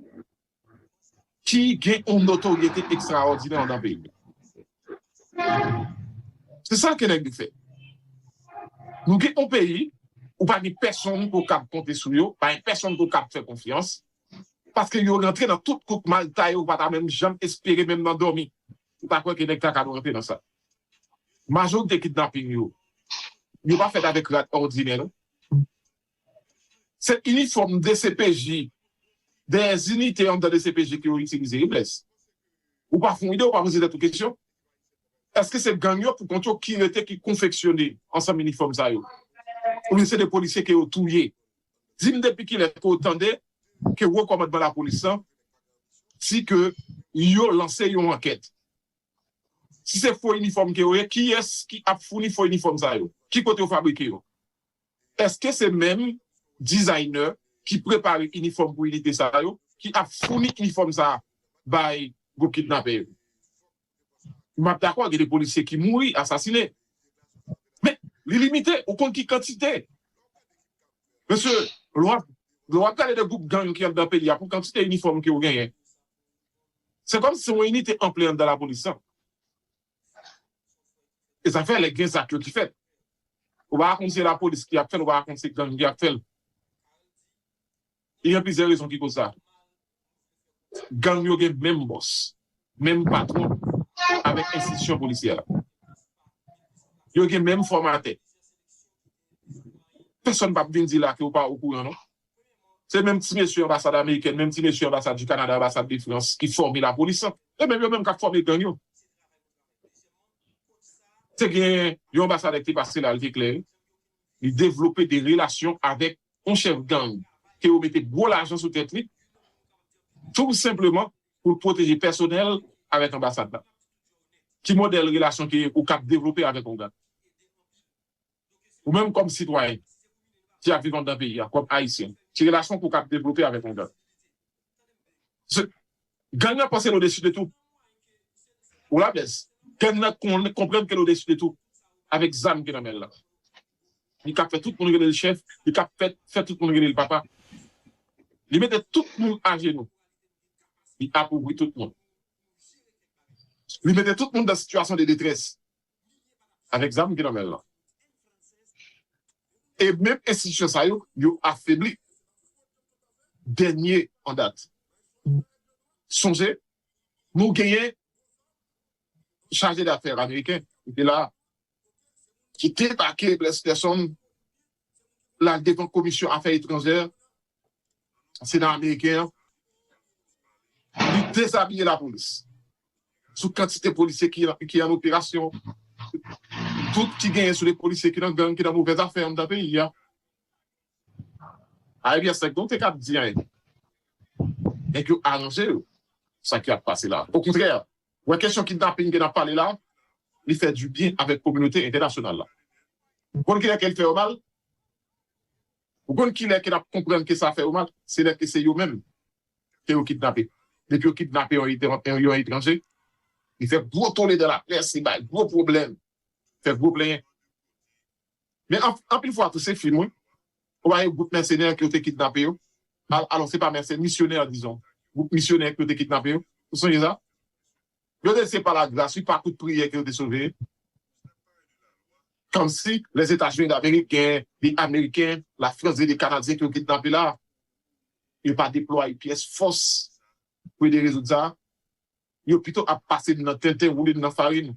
ki gen yon notoryete ekstraòdinè anndan peyi a. Se sa ke nèg yo fè. Nou gen yon peyi, ou pa gen pèsonn ke w kab konte sou yo, pa gen pèsonn ke w kab fè konfyans, paske yo rantre nan tout kout mal taye ou pa ta menm janm espere menm nan dòmi ou ta kwè ke nèg ta kab rantre nan sa. Majorite kidnaping yo, yo pa fèt avèk rad òdinè non. Se inifòm dcpj dèyè zinite anndan dcpj ke yo itilize wi Blaise. Ou pa fon ide ou pa poze tèt ou kesyon? Eske se gang yo pou kont yo ki rete ki konfeksyone ansanm inifòm sa yo? Oubyen se de polisye ke yo touye? Di m depi kilè ke w tande ke wo kòmandman lapolis lan di ke yo lanse yon ankèt? Si se fo inifòm ke yo ye, kiyès ki ap founi fo inifòm sa yo? Ki kote yo fabrike yo? Eske se menm designer ki prepare inifòm pou inite sa yo ki ap founi inifòm sa bay gwoup kidnapè yo? Map dakò gen de polisye ki mouri, asasine. Men, li limite, ou konn ki kantite. Mesye, lè wap gade de gwoup gang ki anndan peyi a pou kantite inifòm ke yo genyen, se kòmsi se yon inite anplè anndan lapolis lan. E sa fè lè gen zak yo ki fèt, ou pa ka konn si se lapolis ki ap fè l, ou pa ka konn si se gang ki ap fè l. Gen plizyè rezon ki koz sa. Gang yo gen menm bòs, menm patwon avèk enstitisyon polisyè a. Yo gen menm fòmatè. Pèsòn pap vin di la ke ou pa okouran non. Se menm ti mesye anbasad amerikèn, menm ti mesye anbasad du Canada, anbasad de France ki fòme la polis lan. E menm yo menm kap fòme gang yo. Te gen yon anbasadè ki te pase la li te klè, li devlope de relasyon avèk yon chèf gang ke yo mete gwo lajan sou tèt li tou senpleman pou l pwoteje pèsonèl avèk anbasad la. Ki modèl relasyon ke ou kap devlope avèk yon gang? Ou menm kòm sitwayen ki ap viv anndan peyi a, kòm Ayisyen, ki relasyon pou w kab devlope avèk yon gang? Paske gang nan panse l odesu de tou. Ou la Blaise? Gang nan konprann ke l odesu de tou avèk zam ki nan men l lan. Li kab fè tout moun rele l chèf, li kab fè tout moun rele l papa. Li mete tout moun ajenou. Li apovri tout moun. Li mete tout moun dan sitiyasyon de detrès. avèk zam ki nan men l lan. E menm enstitisyon sa yo, yo afebli. Dènye an dat, sonje nou genyen chaje dafè ameriken ki te la a, ki debake Bless Gerson, l al devan komisyon afè etranjè Sena ameriken an li dezabiye lapolis sou kantite polisye ki an operasyon, dout ki genyen sou de polisye ki nan gang, ki nan movèz afè anndan peyi a. Ayè byen sèk nou te kab di anyen. Nèg yo aranje yo sa ki ap pase la. Okontrè, wè kesyon kidnaping ke n ap pale la, li fè dibyen avèk kominote entènasyonal la. Bon kilè ke l fè yo mal? Ou konn kilè ke nap konprann ke sa fè yo mal? Se lè ke se yo menm ke yo kidnape. Depi yo kidnape yon etranje, li fè gwo tole dan laprès, li bay gwo pwoblèm, fè gwo plenyen. Men anpil fwa tou se fim wi. Ou pa wè gwoup mèsenè ke yo te kidnape yo? Alò se pa mèsenè, misyonè dizon. Gwoup misyonè ke yo te kidnape yo. Ou sonje sa? Yo te se pa la gras wi pa kout priyè ke yo te sove. Komsi les etazini damerik gen de ameriken la frans gen de kanadyen ke yo kidnape la yo pa deplwaye pyès fòs pou ede rezoud sa yo pito ap pase nou nan tenten woule nou nan farin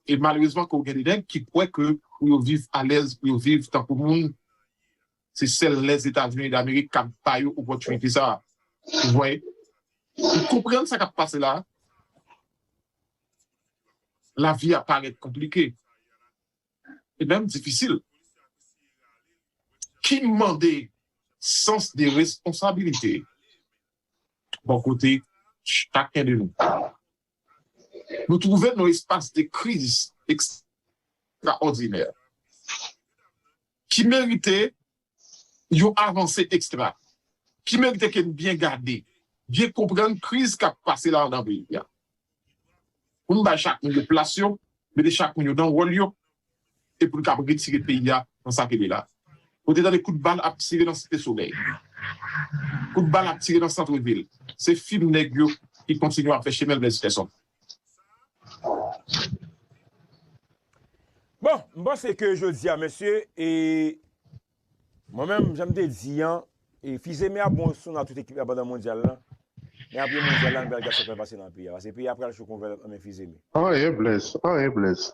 E malerezman ke w gen de nèg ki kwè ke pou yo viv alèz, pou yo viv tankou moun, se sèl Lèzetazini Damerik kab ba yo opòtinite sa a. Ou voye? Ou konprann sa k ap pase la a? Lavi a parèt konplike e menm difisil. Ki mande sans de responsabilite bò kote chaken de nou. Nou twouve n nan yon espas de kriz ekstraòdinè ki merite yon avanse ekstra, ki merite ke n byen gade, byen konprann kriz k ap pase la anndan peyi a, pou n bay chak moun yo plas yo, mete chak moun yo nan wòl yo. e pou l kab retire peyi a nan sa ke l ye la. Ou te tande kout bal ap tire nan Site Solèy. Kout bal ap tire nan Centre Ville. Se fim nèg yo ki kontinye ap fè chemen l Blaise Ferson. Bon, m panse ke jodi a mesye, e mwen menm jan m te di an, e Fils-Aimé ap bon sou nan tout ekip la pandan Mondyal la, men apre Mondyal la nou pral gad sa k pral pase nan peyi a. Paske peyi a pral cho kon vèlòt nan men Fils-Aimé. Anyen Blaise, anyen Blaise.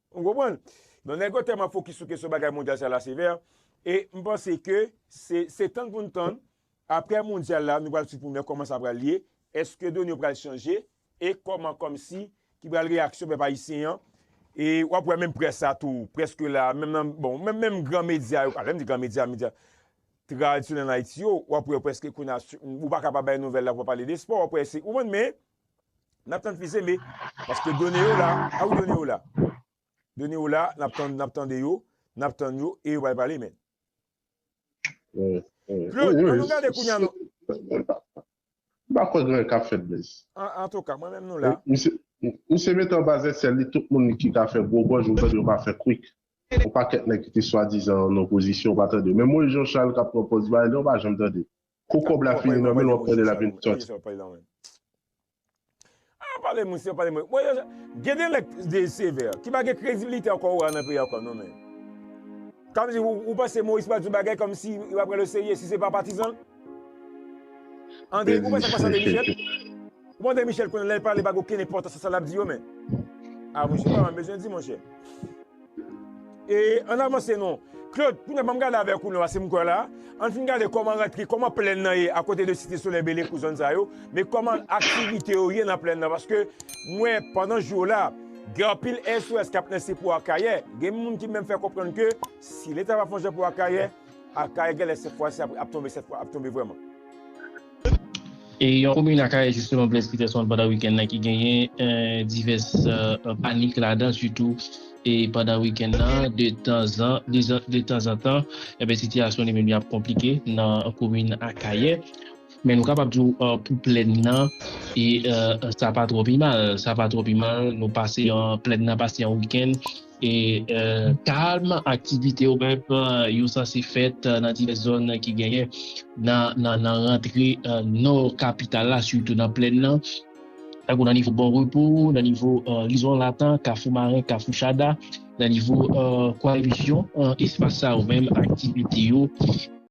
Ou konprann? Donk nèg yo tèlman fokis sou kesyon bagay mondyal sa la sevè, e m panse ke se se tann pou n tann aprè mondyal la nou pral swiv pou n wè kòman sa pral ye, èske done yo pral chanje e kòman kòmsi ki pral reyaksyon pèp ayisyen an. E w ap wè menm près la tou prèske la menm nan bon menm menm gran medya yo a lè m di gran medya medya tradisyonèl ann Ayiti yo w ap wè yo prèske kounye a ou pa ka pa bay nouvèl la pou w pa pale de espò w ap wè se ou konprann men Nap tann fils aimé paske done yo la a wi done yo la done yo la nap tann nap tande yo nap tann yo e yo pral pale men Claude an nou gade kounya nou Mpa kwè gen anyen kap fèt blaze. Antouka mwen menm nou la. Misye mete anba zèsèl li tout moun ki ka fè gwo gòj ou tande yo pa fè kwik. Yon pakèt nèg ki te swadizan an opozisyon ou pa tande yo. Menm Moyiz Jan Chal kap pran pòz Biden ou pa janm tande. Kou kob la fini nan menl wap tande lap vin soti. Aah pale moun se pale moun. Bon yo gen de lèk de sevè ki pa gen kredibilite ankò ou a nan peyi a ankò non menn. Kap di ou ou panse Moise pral di yon bagay kòm si yo pa pran l o serye si se pa patizan l. Andre ou wè sak pase Andre Michel. Ou wè Andre Michel kounye a lèl pale pa gen okenn enpòtans nan sa lap di yo menn. Aah monchè ou pa menm bezwen di monchè. E ann avanse non. Claude, kounye a banm gade avèk ou non paske m kwè la, ann fin gade kòman rantre, kòman plèn nan ye akote de Site Solèy, Belekou, zòn sa yo, men kòman aktivite yo ye nan plèn nan paske m wè pandan jou yo la, gen anpil SOS k ap lanse pou Akayè, gen moun ki menm fè konprann ke si leta pa fè yon jan pou Akayè, Akayè genlè sèt fwa si ap tonbe sèt fwa, ap tonbe vrèman. E yon komin Akayè jisteman Blaise Peterson pandan wikenn nan ki genyen divès panik ladan sitou pandan wikenn nan detanzantan enben sitiyasyon li menm li ap konplike nan komin Akayè men nou kapab di w pou plèn nan sa pa twò pi mal sa pa twò pi mal nou pase plèn nan pase yon wikenn E kalm, aktivite yo menm yo sanse fèt nan divès zòn ki genyen nan rantre nò kapital la, sitou nan plèn nan, tankou nan nivo Bon Repo, nan nivo Lizon Latan, Kafou Maren, Kafou Chada, nan nivo Kwaymisyon. Espas sa yo menm aktivite yo.